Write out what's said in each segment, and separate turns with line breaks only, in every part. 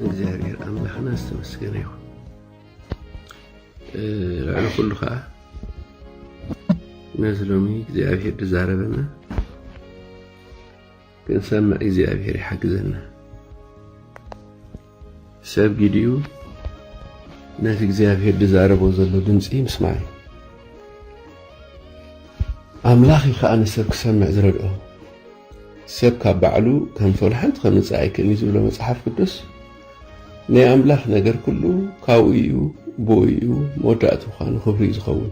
እግዚኣብሔር ኣምላኽና ዝተመስገነ ይኹን። ልዕሊ ኩሉ ከዓ ነዚ ሎሚ እግዚኣብሔር ዝዛረበና ክንሰምዕ እግዚኣብሔር ይሓግዘና። ሰብ ጊዲኡ ነቲ እግዚኣብሔር ዝዛረቦ ዘሎ ድምፂ ምስማዕ እዩ። ኣምላኽ እዩ ከዓ ንሰብ ክሰምዕ ዝረድኦ ሰብ ካብ ባዕሉ ከም ፎል ሓንቲ ከምጽእ ኣይክእን እዩ ዝብሎ መጽሓፍ ቅዱስ ናይ ኣምላኽ ነገር ኩሉ ካብኡ እዩ ብኡ እዩ መወዳእቱ ኳ ንኽብሪ እዩ ዝኸውን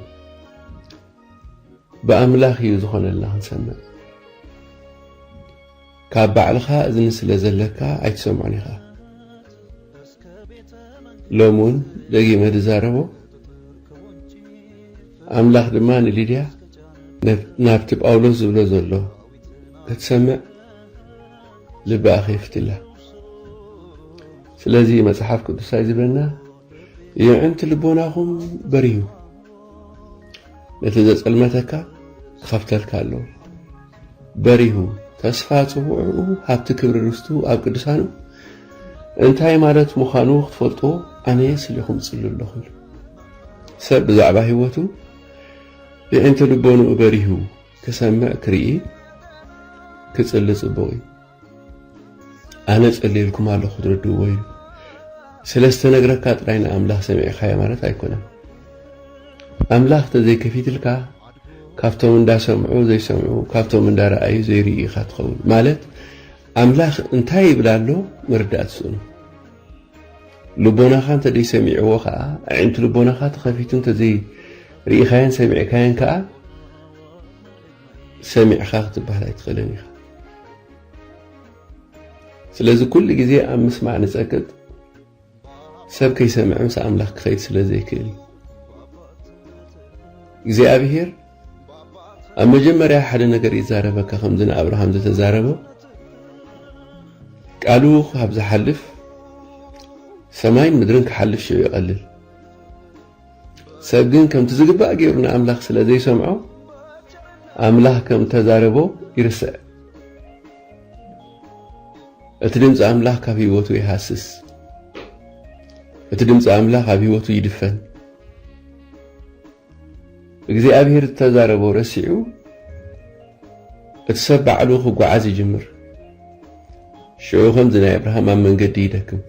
ብኣምላኽ እዩ ዝኾነልና ክንሰምዕ ካብ ባዕልኻ እዝኒ ስለ ዘለካ ኣይትሰምዖን ኢኻ ሎሚ ውን ደጊመ ዝዛረቦ ኣምላኽ ድማ ንሊድያ ናብቲ ጳውሎስ ዝብሎ ዘሎ ክትሰምዕ ልባ ኣኼፍትላ ስለዚ መጽሓፍ ቅዱሳይ ዝብለና የዕንቲ ልቦናኹም በሪሁ ነቲ ዘጸልመተካ ክኸፍተልካ ኣለዎ በሪሁ፣ ተስፋ ጽውዕኡ ሃብቲ ክብሪ ርስቱ ኣብ ቅዱሳኑ እንታይ ማለት ምዃኑ ክትፈልጥዎ ኣነ ስሌኹም ጽሉ ኣለኹ ኢሉ። ሰብ ብዛዕባ ህይወቱ የዒንቲ ልቦንኡ በሪሁ ክሰምዕ ክርኢ ክጽሊ ጽቡቕ እዩ። ኣነ ጸልየልኩም ኣለኹ ክትርድእዎ እዩ ስለዝተነግረካ ጥራይ ንኣምላኽ ሰሚዕካዮ ማለት ኣይኮነን ኣምላኽ ተዘይከፊትልካ ካብቶም እንዳሰምዑ ዘይሰምዑ ካብቶም እንዳረኣዩ ዘይርኢ ኢኻ ትኸውን ማለት ኣምላኽ እንታይ ይብል ኣሎ ምርዳእ ትስእኑ ልቦናኻ እንተዘይ ሰሚዕዎ ከዓ ኣዒንቲ ልቦናኻ ተኸፊቱ እንተዘይ ርኢኻየን ሰሚዕካየን ከዓ ሰሚዕኻ ክትበሃል ኣይትኽእልን ኢኻ። ስለዚ ኩሉ ግዜ ኣብ ምስማዕ ንጸቅጥ፣ ሰብ ከይሰምዐ ምስ ኣምላኽ ክኸይድ ስለ ዘይክእል እዩ። እግዚኣብሄር ኣብ መጀመርያ ሓደ ነገር ይዛረበካ ከምዚ ንኣብርሃም ዝተዛረቦ ቃሉ ካብ ዝሓልፍ ሰማይን ምድርን ክሓልፍ ሽዑ ይቐልል። ሰብ ግን ከምቲ ዝግባእ ገይሩ ንኣምላኽ ስለ ዘይሰምዖ ኣምላኽ ከም እተዛረቦ ይርስዕ። እቲ ድምፂ ኣምላኽ ካብ ህይወቱ ይሃስስ። እቲ ድምፂ ኣምላኽ ኣብ ህይወቱ ይድፈን። እግዚኣብሔር ዝተዛረቦ ረሲዑ እቲ ሰብ ባዕሉ ክጓዓዝ ይጅምር። ሽዑ ከምዚ ናይ ኣብርሃም ኣብ መንገዲ ይደክም።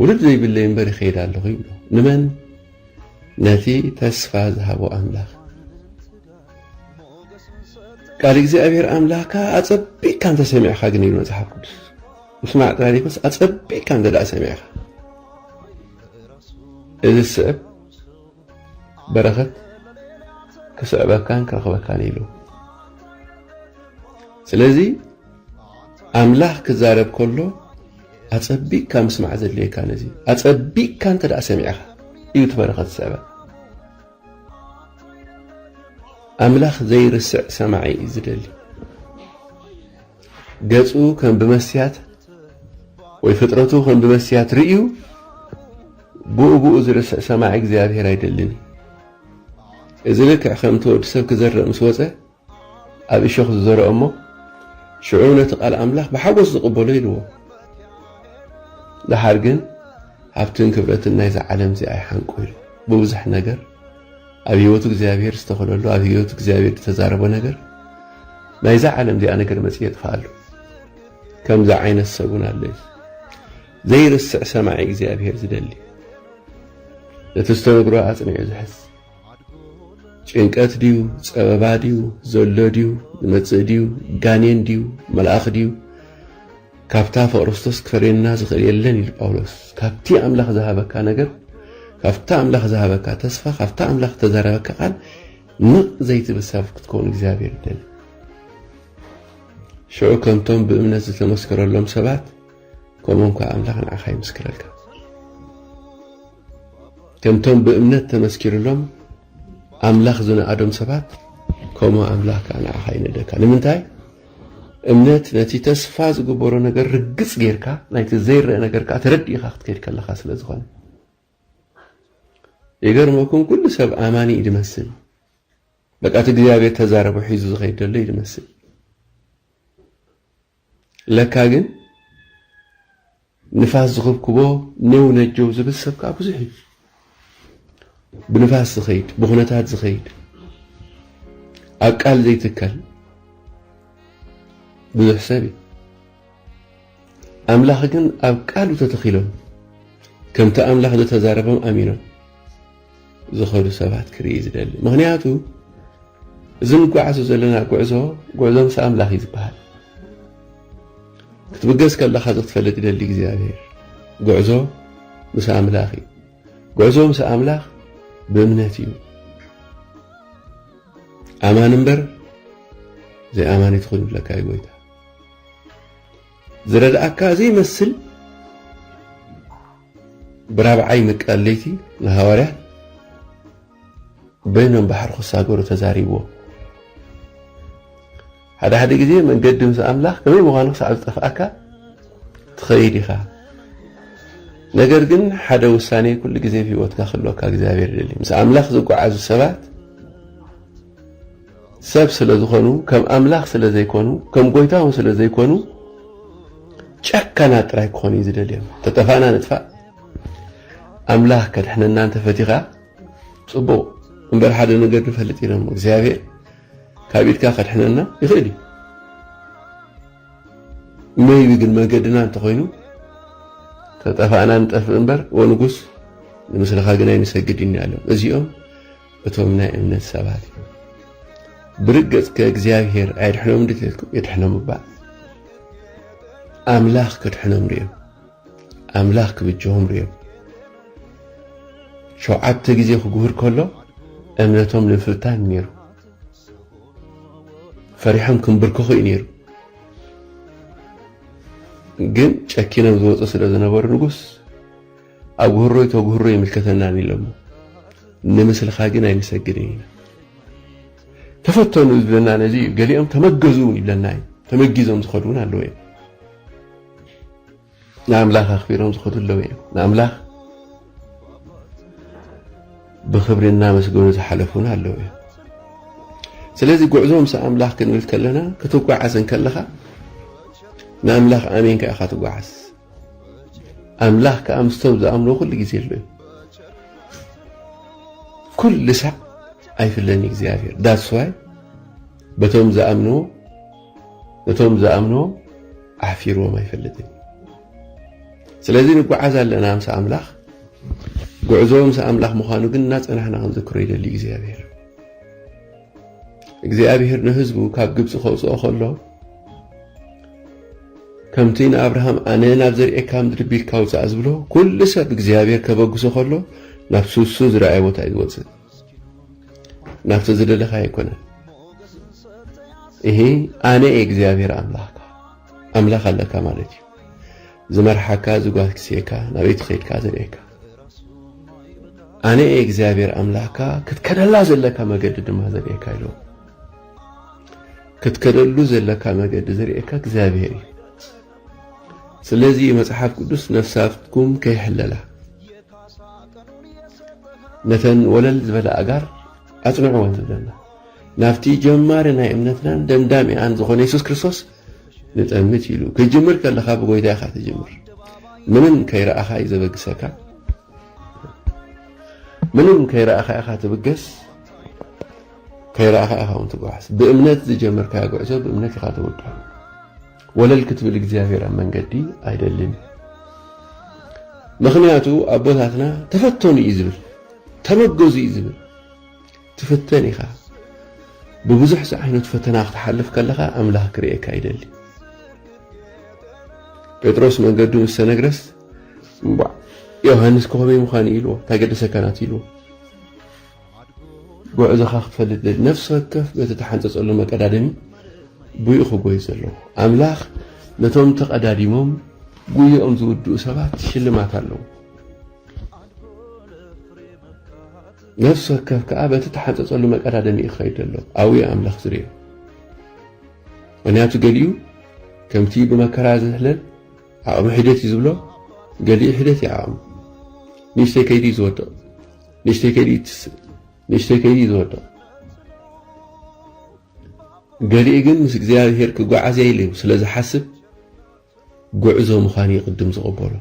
ውሉድ ዘይብለይ እምበር ይኸይድ ኣለኹ ይብሎ። ንመን? ነቲ ተስፋ ዝሃቦ ኣምላኽ። ቃል እግዚኣብሔር ኣምላኽካ ኣጸቢቕካ እንተ ሰሚዕካ ግን ይብል መጽሓፍ ቅዱስ ምስማዕ ጥራይ ዘይኮነስ ኣጸቢቕካ እንተ ደኣ ሰሚዕካ እዚ ዝስዕብ በረኸት ክስዕበካን ክረኽበካን ኢሉ ስለዚ ኣምላኽ ክዛረብ ከሎ ኣጸቢቕካ ምስማዕ ዘድልየካ ነዚ ኣጸቢቕካ እንተ ደኣ ሰሚዕኻ እዩ እቲ በረኸት ዝስዕበ ኣምላኽ ዘይርስዕ ሰማዒ እዩ ዝደሊ ገጹ ከም ብመስትያት ወይ ፍጥረቱ ከም ብመስትያት ርእዩ ብኡ ብኡ ዝርስዕ ሰማዒ እግዚኣብሔር ኣይደልን እዩ። እዚ ልክዕ ከምቲ ወዲ ሰብ ክዘርእ ምስ ወፀ ኣብ እሾኽ ዝዘርኦ እሞ ሽዑ ነቲ ቃል ኣምላኽ ብሓጎስ ዝቕበሎ ኢልዎ ደሓር ግን ሃብትን ክብረትን ናይዛ ዓለም እዚኣ ይሓንቆ ኢሉ ብብዙሕ ነገር ኣብ ህይወቱ እግዚኣብሔር ዝተኸለሉ ኣብ ህይወቱ እግዚኣብሔር ዝተዛረቦ ነገር ናይዛ ዓለም እዚኣ ነገር መጽ የጥፍኣሉ ከምዚ ዓይነት ሰቡን ኣለ እዩ ዘይርስዕ ሰማዒ እግዚኣብሔር ዝደሊ እቲ ዝተነግሮ ኣጽኒዑ ዝሕዝ ጭንቀት ድዩ ጸበባ ድዩ ዘሎ ድዩ ዝመጽእ ድዩ ጋኔን ድዩ መልኣኽ ድዩ ካብታ ፍቕርስቶስ ክፈልየና ዝኽእል የለን ኢሉ ጳውሎስ። ካብቲ ኣምላኽ ዝሃበካ ነገር፣ ካብቲ ኣምላኽ ዝሃበካ ተስፋ፣ ካብቲ ኣምላኽ እተዛረበካ ቃል ንቕ ዘይትብል ሰብ ክትከውን እግዚኣብሔር ይደሊ። ሽዑ ከምቶም ብእምነት ዝተመስከረሎም ሰባት ከምኦም ከዓ ኣምላኽ ንዓኻ ይምስክረልካ። ከምቶም ብእምነት ተመስኪርሎም ኣምላኽ ዝነኣዶም ሰባት ከምኡ ኣምላኽ ከዓ ንዓኻ ይነደካ። ንምንታይ? እምነት ነቲ ተስፋ ዝግበሮ ነገር ርግጽ ጌርካ ናይቲ ዘይረኣ ነገር ከኣ ተረዲእኻ ክትከይድ ከለኻ ስለ ዝኾነ ይገርመኩም ኩሉ ሰብ ኣማኒ እዩ ዝመስል በቃ እቲ እግዚኣብሔር ተዛረቦ ሒዙ ዝኸይድ ዘሎ እዩ ዝመስል ለካ ግን ንፋስ ዝኽብክቦ ኔው ነጀው ዝብል ሰብ ከኣ ብዙሕ እዩ። ብንፋስ ዝኸይድ፣ ብኹነታት ዝኸይድ፣ ኣብ ቃል ዘይትከል ብዙሕ ሰብ እዩ። ኣምላኽ ግን ኣብ ቃሉ ተተኺሎም ከምቲ ኣምላኽ ዝተዛረቦም ኣሚኖም ዝኸዱ ሰባት ክርኢ ዝደሊ ምኽንያቱ እዚ ንጓዓዞ ዘለና ጉዕዞ ጉዕዞ ምስ ኣምላኽ እዩ ዝበሃል ክትብገስ ከለኻ እዚ ክትፈልጥ ይደሊ እግዚኣብሔር ጉዕዞ ምስ ኣምላኽ እዩ ጉዕዞ ምስ ኣምላኽ ብእምነት እዩ ኣማን እምበር ዘይኣማኒ ትኹን ይብለካ እዩ ጎይታ ዝረድኣካ ዘይመስል ብራብዓይ ምቃል ለይቲ ንሃዋርያት በይኖም ባሕሪ ክሳገሩ ተዛሪብዎም። ሓደ ሓደ ግዜ መንገዲ ምስ ኣምላኽ ከመይ ምዃኑ ክሳዕ ዝጠፍኣካ ትኸይድ ኢኻ። ነገር ግን ሓደ ውሳኔ ኩሉ ግዜ ኣብ ህይወትካ ክህልወካ እግዚኣብሔር ይደሊ። ምስ ኣምላኽ ዝጓዓዙ ሰባት ሰብ ስለ ዝኾኑ ከም ኣምላኽ ስለ ዘይኮኑ ከም ጎይታ ውን ስለ ዘይኮኑ ጨካናት ጥራይ ክኾኑ እዩ ዝደልዮም ተጠፋእና ንጥፋእ ኣምላኽ ከድሕነና እንተፈቲኻ ጽቡቕ እምበር ሓደ ነገር ንፈልጥ ኢና እሞ እግዚኣብሔር ካብ ኢድካ ከድሕነና ይኽእል እዩ መይቢ ግን መገድና እንተኾይኑ ተጠፋእና ንጠፍእ እምበር ወንጉስ ንምስልኻ ግን ኣይንሰግድ ኢና እዚኦም እቶም ናይ እምነት ሰባት እዮም። ብርግጽ ከእግዚኣብሔር ኣየድሕኖም ድተልኩም የድሕኖም እባ ኣምላኽ ከድሕኖም ርዮም ኣምላኽ ክብጀሆም ርዮም ሸውዓተ ግዜ ክግብር ከሎ እምነቶም ንምፍታን ነይሩ ፈሪሖም ክንብርከኹ እዩ ነይሩ ግን ጨኪኖም ዝወፁ ስለ ዝነበሩ ንጉስ ኣጉህሮይ ተጉህሮ ኣይምልከተናን ኢሎሞ ንምስልካ ግን ኣይንሰግድን ኢና ተፈተኑ ዝብለና ነዚ እዩ ገሊኦም ተመገዙ ውን ይብለና እዩ ተመጊዞም ዝኸዱ ውን ኣለዉ እዮም ንኣምላኽ ኣኽቢሮም ዝኸዱ ኣለዉ እዮም ንኣምላኽ ብኽብሪ እናመስገኑ ዝሓለፉን ኣለዉ እዮም ስለዚ ጉዕዞ ምስ ኣምላኽ ክንብል ከለና ክትጓዓዝ እንከለኻ ንኣምላኽ ኣሜንካ ኢኻ ትጓዓዝ ኣምላኽ ከኣ ምስቶም ዝኣምንዎ ኩሉ ግዜ ኣሎ እዩ። ኩሉ ሳዕ ኣይፍለን እዩ እግዚኣብሔር ዳስዋይ በቶም ዝኣምንዎ ነቶም ዝኣምንዎ ኣሕፊርዎም ኣይፈልጥን። ስለዚ ንጓዓዝ ኣለና ምስ ኣምላኽ ጉዕዞ ምስ ኣምላኽ ምዃኑ ግን እናጸናሕና ክንዝክሮ ይደሊ እግዚኣብሔር። እግዚኣብሄር ንህዝቡ ካብ ግብጺ ከውጽኦ ከሎ ከምቲ ንኣብርሃም ኣነ ናብ ዘርእካ ምድሪ ቢልካ ውጻእ ዝብሎ ኩሉ ሰብ እግዚኣብሄር ከበግሶ ከሎ ናብ ሱሱ ዝረኣየ ቦታ እዩ ዝወጽእ ናብቲ ዝደለኻ ኣይኮነን ይሄ ኣነ እግዚኣብሄር ኣምላኽካ ኣምላኽ ኣለካ ማለት እዩ ዝመርሓካ እዚ ጓል ክስኤካ ናበይ ትኸድካ ዘርእየካ ኣነ እየ እግዚኣብሔር ኣምላኽካ ክትከደላ ዘለካ መገዲ ድማ ዘርእየካ ኢሎ ክትከደሉ ዘለካ መገዲ ዘርእየካ እግዚኣብሔር እዩ ስለዚ መጽሓፍ ቅዱስ ነፍሳትኩም ከይሕለላ ነተን ወለል ዝበለ ኣጋር ኣጽንዕወን ዝብለና ናብቲ ጀማሪ ናይ እምነትናን ደምዳሚኣን ዝኾነ የሱስ ክርስቶስ ንጠምት ኢሉ ክትጅምር ከለኻ ብጎይታ ኢኻ ትጅምር ምንም ከይረኣኻ እዩ ዘበግሰካ ምንም ከይረኣኻ ኢኻ ትብገስ ከይረኣኻ ኢኻ እውን ትጓዓዝ ብእምነት ዝጀመርካዮ ጉዕዞ ብእምነት ኢኻ ተወድሑ ወለል ክትብል እግዚኣብሔር ኣብ መንገዲ ኣይደልን ምክንያቱ ኣቦታትና ተፈተኑ እዩ ዝብል ተበገዙ እዩ ዝብል ትፍተን ኢኻ ብብዙሕ ዝዓይነቱ ፈተና ክትሓልፍ ከለኻ ኣምላኽ ክርእየካ ይደሊ። ጴጥሮስ መንገዱ ምስ ተነግረስ እምቧዕ ዮሃንስ ከኸመይ ምዃን እዩ ኢልዎ ታገደሰካ ናት ኢልዎ ጉዕዞኻ ክትፈልጥ ደሊ ነፍሲ ወከፍ በቲ ተሓንጸጸሉ መቀዳደሚ ብኡ ክጎይ ዘለዎ ኣምላኽ ነቶም ተቐዳዲሞም ጉየኦም ዝውድኡ ሰባት ሽልማት ኣለዎ። ነፍሲ ወከፍ ከኣ በቲ ተሓንጸጸሉ መቀዳደሚ እዩ ክኸይድ ዘሎ ኣብኡ እዩ ኣምላኽ ዝርእዮ ምክንያቱ ገሊኡ ከምቲ ብመከራ ዝሕለል ዓቕሚ ሒደት እዩ ዝብሎ ገሊኡ ሒደት እዩ ዓቕሚ ንእሽተይ ከይዲ እዩ ዝወድቕ ንእሽተይ ከይዲ ይትስእ ንእሽተይ ከይዲ እዩ ዝወድቕ ገሊኡ ግን ምስ እግዚኣብሄር ክጓዓዝ እየ ኢሉ ስለ ዝሓስብ ጉዕዞ ምዃኑ ይቕድም ዝቕበሎ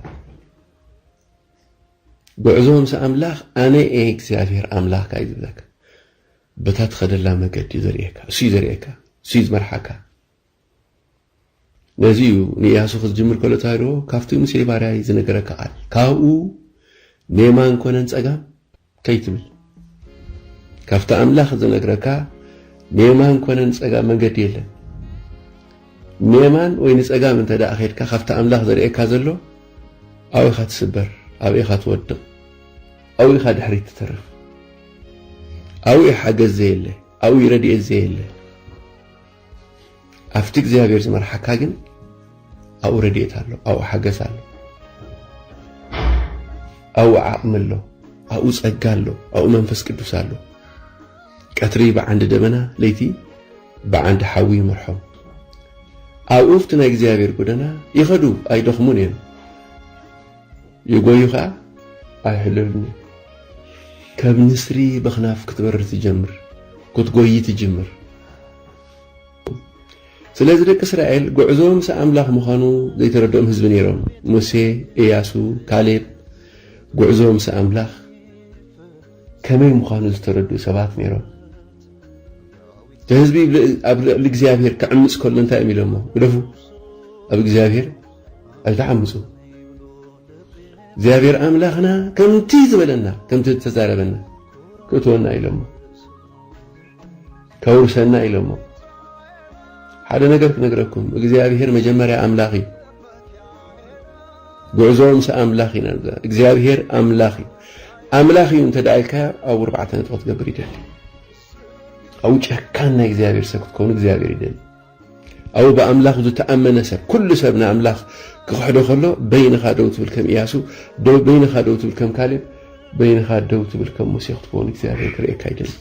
ጉዕዞ ምስ ኣምላኽ ኣነ እየ እግዚኣብሄር ኣምላኽካ እዩ ዝብለካ። በታ ትኸደላ መገዲ እዩ ዘርእየካ፣ እሱ እዩ ዘርእየካ፣ እሱ እዩ ዝመርሓካ። ነዚ እዩ ንኢያሱ ክትጅምር ከሎ ተሃድዎ ካብቲ ሙሴ ባርያይ ዝነገረካ ቃል ካብኡ ንየማን ኮነ ንጸጋም ከይትብል ካብቲ ኣምላኽ ዝነግረካ ንየማን ኮነ ንጸጋም መንገዲ የለን። ንየማን ወይ ንጸጋም እንተ ደኣ ኼድካ ካብቲ ኣምላኽ ዘርእየካ ዘሎ ኣብኡ ኢኻ ትስበር፣ ኣብኡ ኢኻ ትወድቕ፣ ኣብኡ ኢኻ ድሕሪት ትተርፍ። ኣብኡ እዩ ሓገዝ ዘየለ፣ ኣብኡ እዩ ረድኤት ዘየለ። ኣብቲ እግዚኣብሔር ዝመርሓካ ግን ኣብኡ ረድኤት ኣሎ ኣብኡ ሓገዝ ኣሎ ኣብኡ ዓቕሚ ኣሎ ኣብኡ ጸጋ ኣሎ ኣብኡ መንፈስ ቅዱስ ኣሎ ቀትሪ ብዓንዲ ደበና ለይቲ ብዓንዲ ሓዊ ይመርሖም ኣብኡ ኣብቲ ናይ እግዚኣብሔር ጎደና ይኸዱ ኣይደኽሙን እዮም የጎዩ ከኣ ኣይሕለሉን እዮም ከም ንስሪ በክናፍ ክትበርር ትጀምር ክትጎዪ ትጅምር ስለዚ ደቂ እስራኤል ጉዕዞ ምስ ኣምላኽ ምዃኑ ዘይተረድኦም ህዝቢ ነይሮም ሙሴ እያሱ ካሌብ ጉዕዞ ምስ ኣምላኽ ከመይ ምዃኑ ዝተረዱ ሰባት ነይሮም እቲ ህዝቢ ኣብ ልዕሊ እግዚኣብሄር ክዕምፅ ከሎ እንታይ እዮም ኢሎሞ ግደፉ ኣብ እግዚኣብሄር ኣይትሓምሱ እግዚኣብሔር ኣምላኽና ከምቲ ዝበለና ከምቲ ዝተዛረበና ክእትወና ኢሎሞ ከውርሰና ኢሎሞ ሓደ ነገር ክነግረኩም እግዚኣብሔር መጀመርያ ኣምላኽ እዩ ጉዕዞ ምስ ኣምላኽ ኢና እግዚኣብሔር ኣምላኽ እዩ ኣምላኽ እዩ እንተ ደኣ ኢልካዮ ኣብ ኣርባዕተ ነጥቢ ክትገብር ይደሊ ኣብኡ ጨካን ናይ እግዚኣብሔር ሰብ ክትከውን እግዚኣብሔር ይደሊ ኣው ብኣምላኽ ዝተኣመነ ሰብ፣ ኩሉ ሰብ ንኣምላኽ ክኽሕዶ ከሎ፣ በይንኻ ደው ትብል ከም እያሱ፣ በይንኻ ደው ትብል ከም ካሌብ፣ በይንኻ ደው ትብል ከም ሙሴ ክትከውን እግዚኣብሔር ክርእየካ ይደሊ።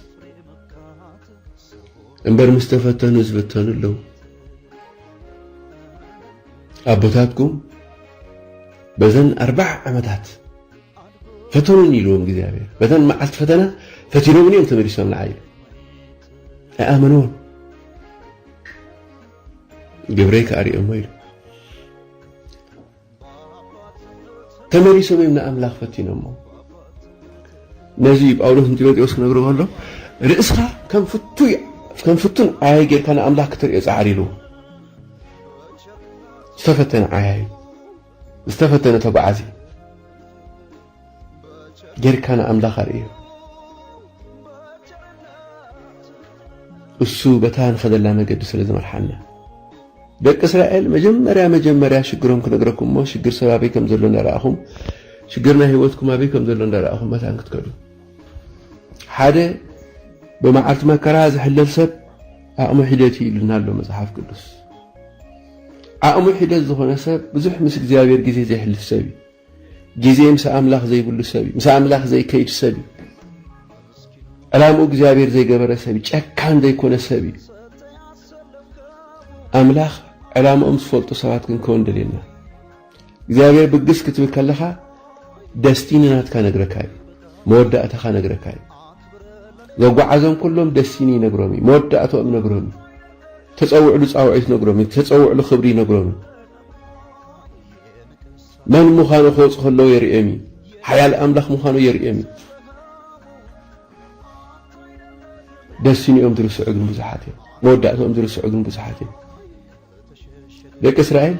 እምበር ምስ ተፈተኑ ዝብተኑ ኣለዉ። ኣቦታትኩም በዘን ኣርባዓ ዓመታት ፈተኑን ኢልዎም እግዚኣብሔር በተን መዓልቲ ፈተና ፈቲኖምን እዮም ተመሊሶም ንዓይ ኣይኣመንዎን ግብረይ ከዓ ሪኦሞ ኢሉ ተመሊሶም እዮም ንኣምላኽ ፈቲኖሞ ነዚ ጳውሎስ ንጢሞቴዎስ ክነግሮ ከሎ ርእስኻ ከም ፍቱይ ከም ፍቱን ዓያይ ጌርካ ንኣምላኽ ክትርእዮ ጻዕሪ ኢሉ ዝተፈተነ ዓያይ ዝተፈተነ ተጓዓዚ ጌርካ ንኣምላኽ ኣርእዮ። እሱ በታ ንኸደላ መገዲ ስለ ዝመርሓና ደቂ እስራኤል መጀመርያ መጀመርያ ሽግሮም ክነግረኩም እሞ ሽግር ሰብ ኣበይ ከም ዘሎ እንዳረኣኹም ሽግር ናይ ህይወትኩም ኣበይ ከም ዘሎ እንዳረኣኹም መታን ክትከዱ ሓደ ብመዓልቲ መከራ ዝሕለል ሰብ ዓቕሙ ሒደት እዩ ኢሉና ኣሎ መጽሓፍ ቅዱስ ዓቕሙ ሒደት ዝኾነ ሰብ ብዙሕ ምስ እግዚኣብሔር ግዜ ዘይሕልፍ ሰብ እዩ ግዜ ምስ ኣምላኽ ዘይብሉ ሰብ እዩ። ምስ ኣምላኽ ዘይከይድ ሰብ እዩ። ዕላምኡ እግዚኣብሔር ዘይገበረ ሰብ እዩ። ጨካን ዘይኮነ ሰብ እዩ። ኣምላኽ ዕላምኦም ዝፈልጡ ሰባት ክንከውን ደልየና። እግዚኣብሔር ብግስ ክትብል ከለኻ ደስቲኒ ናትካ ነግረካ እዩ። መወዳእታኻ ነግረካ እዩ። ዘጓዓዞም ኩሎም ደስቲኒ ይነግሮም እዩ። መወዳእታኦም ይነግሮም እዩ። ተፀውዕሉ ፃውዒት ይነግሮም እዩ። ተፀውዕሉ ክብሪ ይነግሮም እዩ። መን ምዃኑ ክወጽእ ከለዎ የርእዮም እዩ። ሓያል ኣምላኽ ምዃኑ የርእዮም እዩ። ደሲንኦም ዝርስዑ ግን ብዙሓት እዮም። መወዳእትኦም ዝርስዑ ግን ብዙሓት እዮም። ደቂ እስራኤል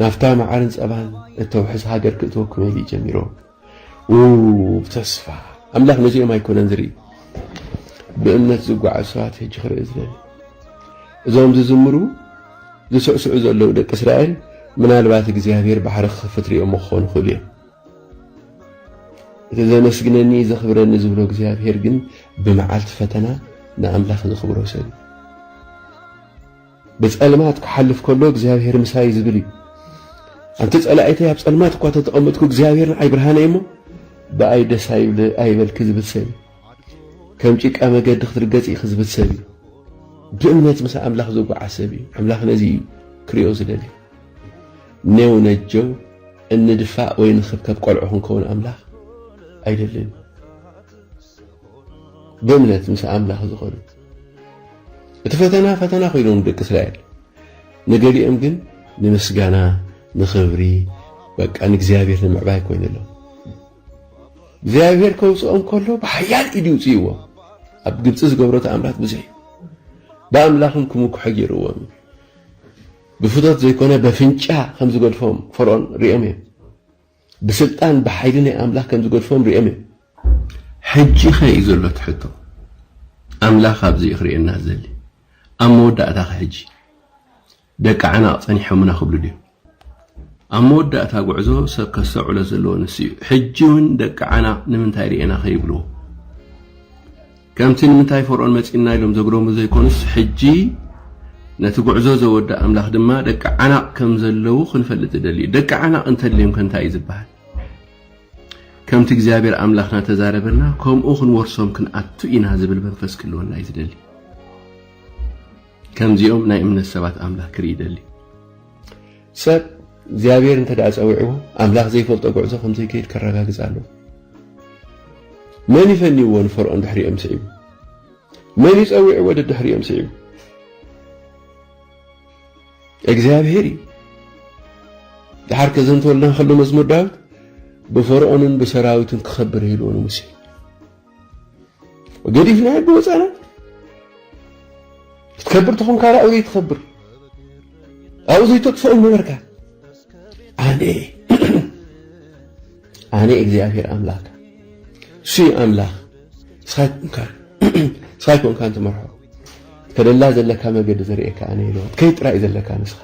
ናብታ መዓርን ጸባን እተውሕስ ሃገር ክእትወኩም እዩ ጀሚሮም። ኡፍ ተስፋ ኣምላክ ነዚኦም ኣይኮነን ዝርኢ ብእምነት ዝጓዓዙ ሰባት ሕጂ ክርኢ ዝደሊ እዞም ዝዝምሩ ዝስዕስዑ ዘለዉ ደቂ እስራኤል ምናልባት እግዚኣብሔር ባሕሪ ክኸፍት ሪኦሞ ክኾኑ ይኽእሉ እዮም እቲ ዘመስግነኒ ዘኽብረኒ ዝብሎ እግዚኣብሔር ግን ብመዓልቲ ፈተና ንኣምላኽ ዘኽብሮ ሰብ ብጸልማት ክሓልፍ ከሎ እግዚኣብሔር ምሳይ ዝብል እዩ። ኣንቲ ጸላኢተይ ኣብ ጸልማት እኳ ተተቐመጥኩ እግዚኣብሔር ንዓይ ብርሃነይ እሞ ብኣይ ደስ ኣይበልኪ ዝብል ሰብ እዩ። ከም ጭቃ መገዲ ክትርገጽ ኢኺ ዝብል ሰብ እዩ። ብእምነት ምስ ኣምላኽ ዝጓዓ ሰብ እዩ። ኣምላኽ ነዚ እዩ ክሪኦ ዝደሊ። ኔው ነጀው እንድፋእ ወይ ንኽብከብ ቆልዑ ክንከውን ኣምላኽ ኣይደልን። ብእምነት ምስ ኣምላኽ ዝኾኑ እቲ ፈተና ፈተና ኮይኖም ደቂ እስራኤል ንገሊኦም ግን ንምስጋና ንኽብሪ በቃ ንእግዚኣብሔር ንምዕባይ ኮይኑሎም እግዚኣብሔር ከውፅኦም ከሎ ብሓያል ኢድ ይውፅእዎ ኣብ ግብፂ ዝገብሮ ተኣምራት ብዙሕ እዩ ብኣምላኹም ክምኩሐ ገይርዎም እዩ ብፍቶት ዘይኮነ በፍንጫ ከም ዝገድፎም ፈርኦን ሪኦም እዮም ብስልጣን ብሓይሊ ናይ ኣምላኽ ከም ዝገድፎም ርእዮም እዮም። ሕጂኸ እዩ ዘሎ እቲ ሕቶ? ኣምላኽ ኣብዚ እዩ ክርእየና ዝደሊ። ኣብ መወዳእታኸ ሕጂ ደቂ ዓናቕ ጸኒሖምና ክብሉ ድዮም? ኣብ መወዳእታ ጉዕዞ ሰብ ከስተውዕሎ ዘለዎ ንሱ እዩ። ሕጂ እውን ደቂ ዓናቕ ንምንታይ ርኤና ከይብልዎ? ከምቲ ንምንታይ ፈርኦን መጺእና ኢሎም ዘግረሙ ዘይኮኑስ ሕጂ ነቲ ጉዕዞ ዘወድእ ኣምላኽ ድማ ደቂ ዓናቕ ከም ዘለዉ ክንፈልጥ ዝደሊ እዩ። ደቂ ዓናቕ እንተድልዮም ከ እንታይ እዩ ዝበሃል? ከምቲ እግዚኣብሔር ኣምላኽና ተዛረበና ከምኡ ክንወርሶም ክንኣቱ ኢና ዝብል መንፈስ ክህልወና እዩ ዝደሊ ከምዚኦም ናይ እምነት ሰባት ኣምላኽ ክርኢ ይደሊ ሰብ እግዚኣብሔር እንተ ደኣ ጸዊዕዎ ኣምላኽ ዘይፈልጦ ጉዕዞ ከም ዘይከይድ ከረጋግጽ ኣለዎ። መን እዩ ፈንይዎ ንፈርኦን ድሕሪኦም ስዒቡ? መን እዩ ጸዊዕዎ ደድሕሪኦም ስዒቡ? እግዚኣብሔር እዩ። ድሓር ከዘንተወልና ከሎ መዝሙር ዳዊት ብፈርኦንን ብሰራዊቱን ክኸብር ኢልዎ ንሙሴ ገዲፍ ናይ ኣዶ ህፃናት ክትከብር ተኾንካ ኣብኡ ዘይትኸብር ኣብኡ ዘይተጥፍኦ ነበርካ ኣነ ኣነ እግዚኣብሔር ኣምላክ እሱ ኣምላክ እስኻ ይኮንካ እንትመርሖ ከደላ ዘለካ መገዲ ዘርእየካ ኣነ ኢለ ከይ ጥራይ ዘለካ ንስኻ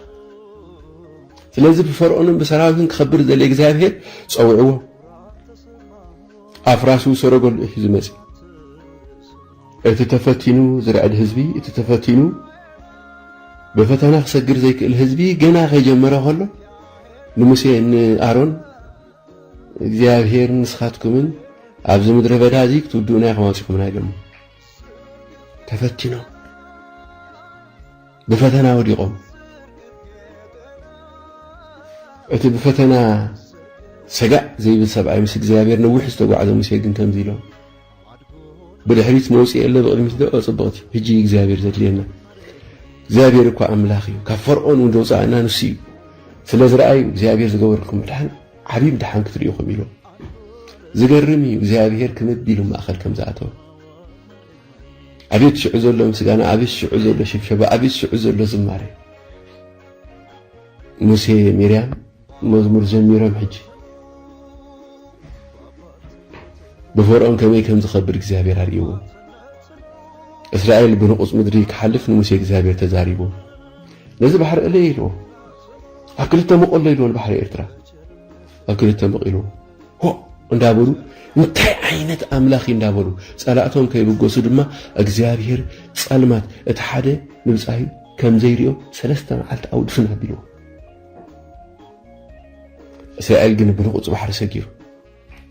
ስለዚ ብፈርዖንን ብሰራዊትን ክኸብር ዘለ እግዚኣብሔር ፀውዕዎ ኣፍራሱ ሰረገሉ እዩ ሒዙ መጺኡ። እቲ ተፈቲኑ ዝርዕድ ህዝቢ፣ እቲ ተፈቲኑ ብፈተና ክሰግር ዘይክእል ህዝቢ ገና ከይጀመረ ከሎ ንሙሴ ንኣሮን እግዚኣብሄር ንስኻትኩምን ኣብዚ ምድረ በዳ እዚ ክትውድኡና ኢኹም ኣውፂኹምና ኢሎሞ ተፈቲኖም ብፈተና ወዲቆም እቲ ብፈተና ሰጋእ ዘይብል ሰብኣይ ምስ እግዚኣብሔር ነዊሕ ዝተጓዕዘ ሙሴ ግን ከምዚ ኢሎም ብድሕሪት መውፅኢ የለ ብቕድሚት ዶ ፅብቕቲ ህጂ እግዚኣብሔር ዘድልየና እግዚኣብሔር እኳ ኣምላኽ እዩ ካብ ፈርዖን እውን ዘውፅኣና ንሱ እዩ ስለ ዝረኣዩ እግዚኣብሔር ዝገበርኩም ድሓን ዓብዪ ድሓን ክትሪኢኹም ኢሎም ዝገርም እዩ እግዚኣብሔር ክምቢሉ ማእኸል ከም ዝኣተወ ኣቤት ሽዑ ዘሎ ምስጋና ኣቤት ሽዑ ዘሎ ሽብሸባ ኣቤት ሽዑ ዘሎ ዝማሬ ሙሴ ሚርያም መዝሙር ዘሚሮም ሕጂ ብፈርዖን ከመይ ከም ዝኸብድ እግዚኣብሔር ኣርእይዎ እስራኤል ብንቑፅ ምድሪ ክሓልፍ ንሙሴ እግዚኣብሔር ተዛሪቦ ነዚ ባሕሪ እለይ ኢልዎ ኣብ ክልተ መቖሎ ኢልዎ ንባሕሪ ኤርትራ ኣብ ክልተ መቒሎም ሆእ እንዳበሉ እንታይ ዓይነት ኣምላኽ እንዳበሉ ጸላእቶም ከይብገሱ ድማ እግዚኣብሔር ጸልማት እቲ ሓደ ንብጻዩ ከም ዘይሪኦ ሰለስተ መዓልቲ ኣውድፍን ኣቢልዎ እስራኤል ግን ብንቑጽ ባሕሪ ሰጊሩ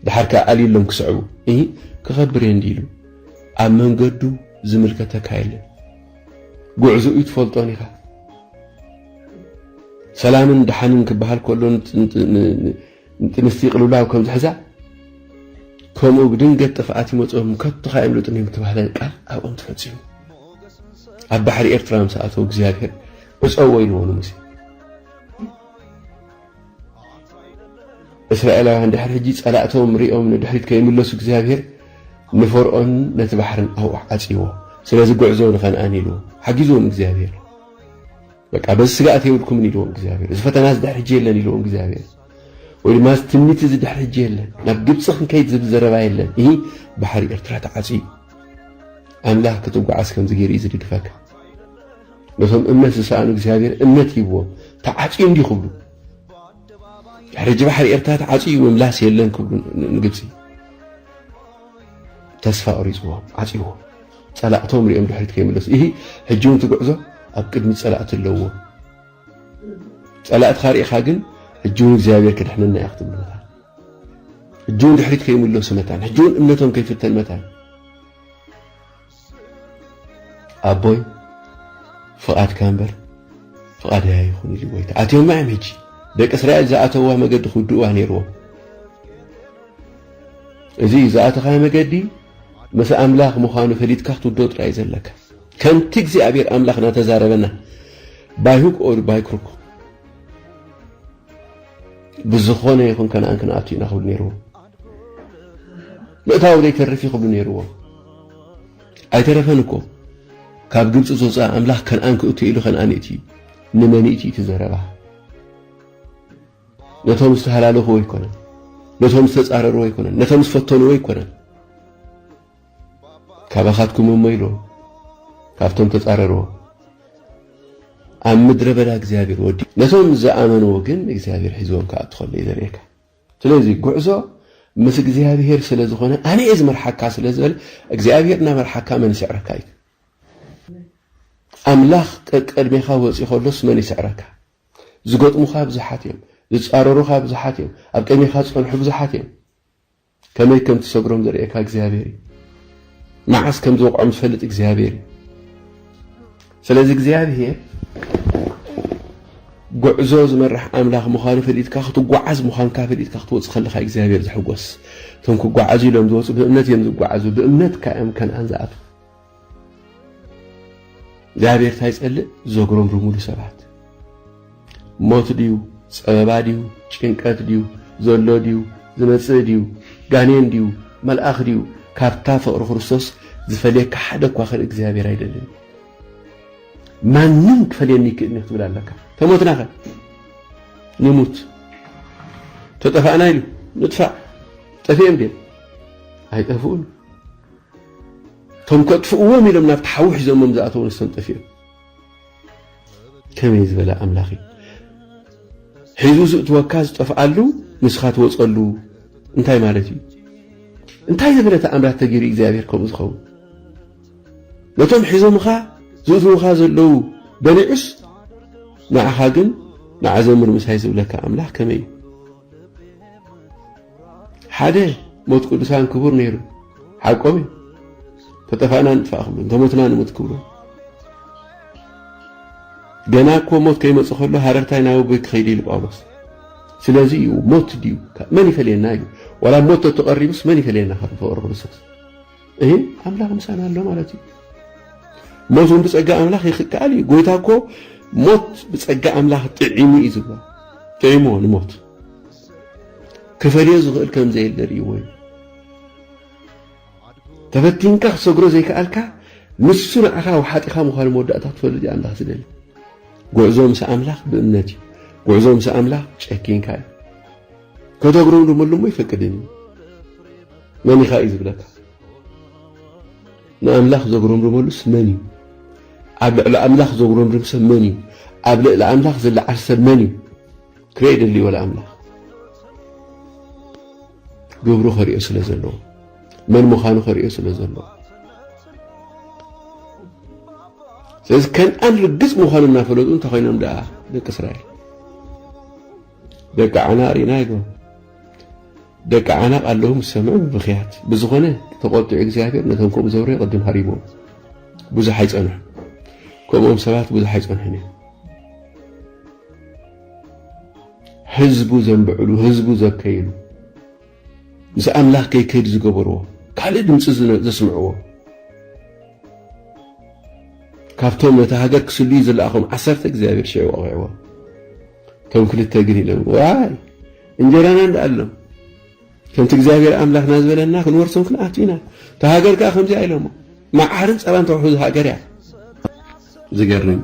ድሓር ከዓ ኣልዩሎም ክስዕቡ እ ክኸብር እየ እንዲ ኢሉ ኣብ መንገዱ ዝምልከተካ የለን ጉዕዞኡ ኣይትፈልጦን ኢኻ። ሰላምን ድሓንን ክበሃል ከሎ ንጥንስቲ ቅልውላው ከም ዝሕዛ ከምኡ ብድንገት ጥፍኣት ይመፅኦም ከቶ ካየምልጡን እዮም ተባህለ ቃል ኣብኦም ተፈፂሙ ኣብ ባሕሪ ኤርትራ ምስ ኣተው እግዚኣብሄር ዕፀዎ ኢልዎ ንሙሴ እስራኤላውያን ድሕሪ ሕጂ ጸላእቶም ሪኦም ንድሕሪት ከይምለሱ እግዚኣብሄር ንፈርኦን ነቲ ባሕርን ኣውሕ ዓጽዎ ስለዚ ጉዕዞ ንኸነኣን ኢሉ ሓጊዝዎም እግዚኣብሄር በቃ በዚ ስጋኣት የብልኩምን ኢልዎም እግዚኣብሄር እዚ ፈተና እዚ ድሕሪ ሕጂ የለን ኢልዎም እግዚኣብሄር ወይ ድማ እዚ ትምኒት እዚ ድሕሪ ሕጂ የለን ናብ ግብፂ ክንከይድ ዝብል ዘረባ የለን እ ባሕሪ ኤርትራ ተዓፅዩ ኣምላኽ ክትጓዓዝ ከምዚ ገይሩ እዩ ዝድግፈካ ነቶም እምነት ዝሰኣኑ እግዚኣብሔር እምነት ሂብዎም ተዓፅዩ እንዲዩ ክብሉ ድሕሪ ሕጂ ባሕሪ ኤርትራ ተዓፅዩ ምምላስ የለን ክብሉ ንግብፂ ተስፋ ቁሪፅዎም ዓፅዎ ፀላእቶም ሪኦም ድሕሪት ከይምለሱ ይህ ሕጂ እውን ትጉዕዞ ኣብ ቅድሚ ፀላእቲ ኣለዎ ፀላእትኻ ርኢኻ ግን ሕጂ እውን እግዚኣብሔር ክድሕነና እያ ክትብሉ መታን ሕጂ እውን ድሕሪት ከይምለሱ መታን ሕጂ እውን እምነቶም ከይፍተን መታን ኣቦይ ፍቓድካ እምበር ፍቓደይ ኣይኹን ኢሉ ጎይታ ኣትዮማ እዮም ሕጂ ደቂ እስራኤል ዝኣተውዋ መገዲ ክውድእዋ ነይርዎም እዚ ዝኣተኻዮ መገዲ ምስ ኣምላኽ ምዃኑ ፈሊጥካ ክትውድኦ ጥራይ ዘለካ ከምቲ እግዚኣብሔር ኣምላኽ እናተዛረበና ባይሁክ ኦር ባይክሩክ ብዝኾነ ይኹን ከነኣን ክንኣቱ ኢና ክብል ነይርዎ ምእታዉ ዘይተርፍ እዩ ክብሉ ነይርዎም። ኣይተረፈን እኮ ካብ ግብፂ ዘውፅኣ ኣምላኽ ከነኣን ክእቱ ኢሉ ከነኣን የእትዩ። ንመን ይእትዩ እቲ ዘረባ? ነቶም ዝተሃላለኹዎ ኣይኮነን፣ ነቶም ዝተፃረርዎ ኣይኮነን፣ ነቶም ዝፈተንዎ ኣይኮነን። ካባኻትኩም እሞ ኢሉ ካብቶም ተፃረርዎ ኣብ ምድረ በዳ እግዚኣብሔር ወዲ ነቶም ዝኣመንዎ ግን እግዚኣብሔር ሒዝዎም ክኣቱ ከሎ እዩ ዘርእየካ። ስለዚ ጉዕዞ ምስ እግዚኣብሄር ስለ ዝኾነ ኣነ እየ ዝመርሓካ ስለ ዝበለ እግዚኣብሄር እናመርሓካ መን ይስዕረካ እዩ ኣምላኽ ቀቅድሜኻ ወፂኡ ከሎስ መን ይስዕረካ ዝገጥሙኻ ብዙሓት እዮም ዝፃረሩኻ ብዙሓት እዮም ኣብ ቅድሜኻ ዝፀንሑ ብዙሓት እዮም ከመይ ከም ትሰግሮም ዘርእየካ እግዚኣብሄር እዩ መዓስ ከም ዝወቕዖም ዝፈልጥ እግዚኣብሄር እዩ ስለዚ እግዚኣብሄር ጉዕዞ ዝመርሕ ኣምላኽ ምዃኑ ፈሊጥካ ክትጓዓዝ ምዃንካ ፈሊጥካ ክትወጽእ ከለኻ እዩ እግዚኣብሄር ዝሕጎስ። እቶም ክጓዓዙ ኢሎም ዝወጹ ብእምነት እዮም ዝጓዓዙ፣ ብእምነት ከ እዮም ከነኣን ዝኣትዉ። እግዚኣብሄር እንታይ ይጸልእ? ዘጉረምርሙሉ ሰባት ሞት ድዩ ጸበባ ድዩ ጭንቀት ድዩ ዘሎ ድዩ ዝመጽእ ድዩ ጋኔን ድዩ መልኣኽ ድዩ ካብታ ፍቕሪ ክርስቶስ ዝፈልየካ ሓደ እኳ ኸን እግዚኣብሔር ኣይደልን ማንም ክፈልየኒ ይክእልኒ ክትብል ኣለካ ተሞትናኸ ንሙት ተጠፋእና ኢሉ ንጥፋእ ጠፊኦም ድዮም ኣይጠፍኡን እቶም ከጥፍእዎም ኢሎም ናብቲ ሓዊ ሒዞሞም ዝኣተዉ ንሶም ጠፊኦም ከመይ ዝበለ ኣምላኽ እዩ ሒዙ ዝእትወካ ዝጠፍኣሉ ንስኻ ትወፀሉ እንታይ ማለት እዩ እንታይ ዝበለ ተኣምራት ተገይሩ እግዚኣብሔር ከምኡ ዝኸውን ነቶም ሒዞምኻ ዝእትውኻ ዘለዉ በሊዑስ ንዓኻ ግን ንዓዘምር ምሳይ ዝብለካ ኣምላኽ ከመይ እዩ ሓደ ሞት ቅዱሳን ክቡር ነይሩ ሓቆም እዩ ተጠፋእና ንጥፋእ ክብሉ እንተሞትና ንሙት ክብሉ ገና እኮ ሞት ከይመፅ ከሎ ሃረርታይ ናብ ኣቦይ ክኸይድ ኢሉ ጳውሎስ ስለዚ እዩ ሞት ድዩ መን ይፈልየና እዩ ዋላ ሞት ተተቐሪቡስ መን ይፈልየና ካብ ፍቕሪ ክርስቶስ እህ ኣምላኽ ምሳና ኣሎ ማለት እዩ ሞት እውን ብፀጋ ኣምላኽ ይክከኣል እዩ ጎይታ እኮ ሞት ብፀጋ ኣምላኽ ጥዒሙ እዩ ዝብሎ ጥዒሙዎ ንሞት ክፈልዮ ዝኽእል ከም ዘየለ ርእይዎ እዩ። ተፈቲንካ ክትሰግሮ ዘይከኣልካ ንሱ ንዓኻ ወሓጢኻ ምዃኑ መወዳእታ ክትፈልጥ እዩ ኣምላኽ ዝደሊ። ጉዕዞ ምስ ኣምላኽ ብእምነት እዩ። ጉዕዞ ምስ ኣምላኽ ጨኪንካ እዩ። ከተጉረምርመሉ እሞ ይፈቅድን እዩ። መን ኢኻ እዩ ዝብለካ። ንኣምላኽ ዘጉረምርመሉስ መን እዩ? ኣብ ልዕሊ ኣምላኽ ዘጉረምርም ሰብ መን እዩ? ኣብ ልዕሊ ኣምላኽ ዝለዓል ሰብ መን እዩ? ክሬ ደልዎ ለኣምላኽ ግብሩ ከሪኦ ስለ ዘለዎ መን ምዃኑ ከሪኦ ስለ ዘለዎ ስለዚ ከንኣን ርግፅ ምዃኑ እናፈለጡ እንተኮይኖም ደኣ ደቂ እስራኤል ደቂ ዓና ርኢና ይግበሩ ደቂ ዓናቕ ኣለዉ ምስ ሰምዑ ብብኽያት ብዝኾነ ተቆጢዑ እግዚኣብሔር ነቶም ከምኡ ዘብረ ቅድም ሃሪቦም ብዙሕ ኣይፀንሑ ከምኦም ሰባት ብዙሕ ኣይፀንሑን እዮም ህዝቡ ዘንብዕሉ፣ ህዝቡ ዘከይሉ፣ ምስ ኣምላኽ ከይከይድ ዝገበርዎ፣ ካልእ ድምጺ ዘስምዕዎ፣ ካብቶም ነታ ሃገር ክስልዩ ዝለኣኾም ዓሰርተ እግዚኣብሔር ሽዑ ወቒዕዎም። እቶም ክልተ ግን ኢሎም ዋይ እንጀራና እንድኣሎም ከምቲ እግዚኣብሔር ኣምላኽና ዝበለና ክንወርሶም ክንኣቱ ኢና እታ ሃገር ከዓ ከምዚኣ ኢሎሞ መዓርን ፀባን ተውሕዙ ሃገር እያ ዝገርም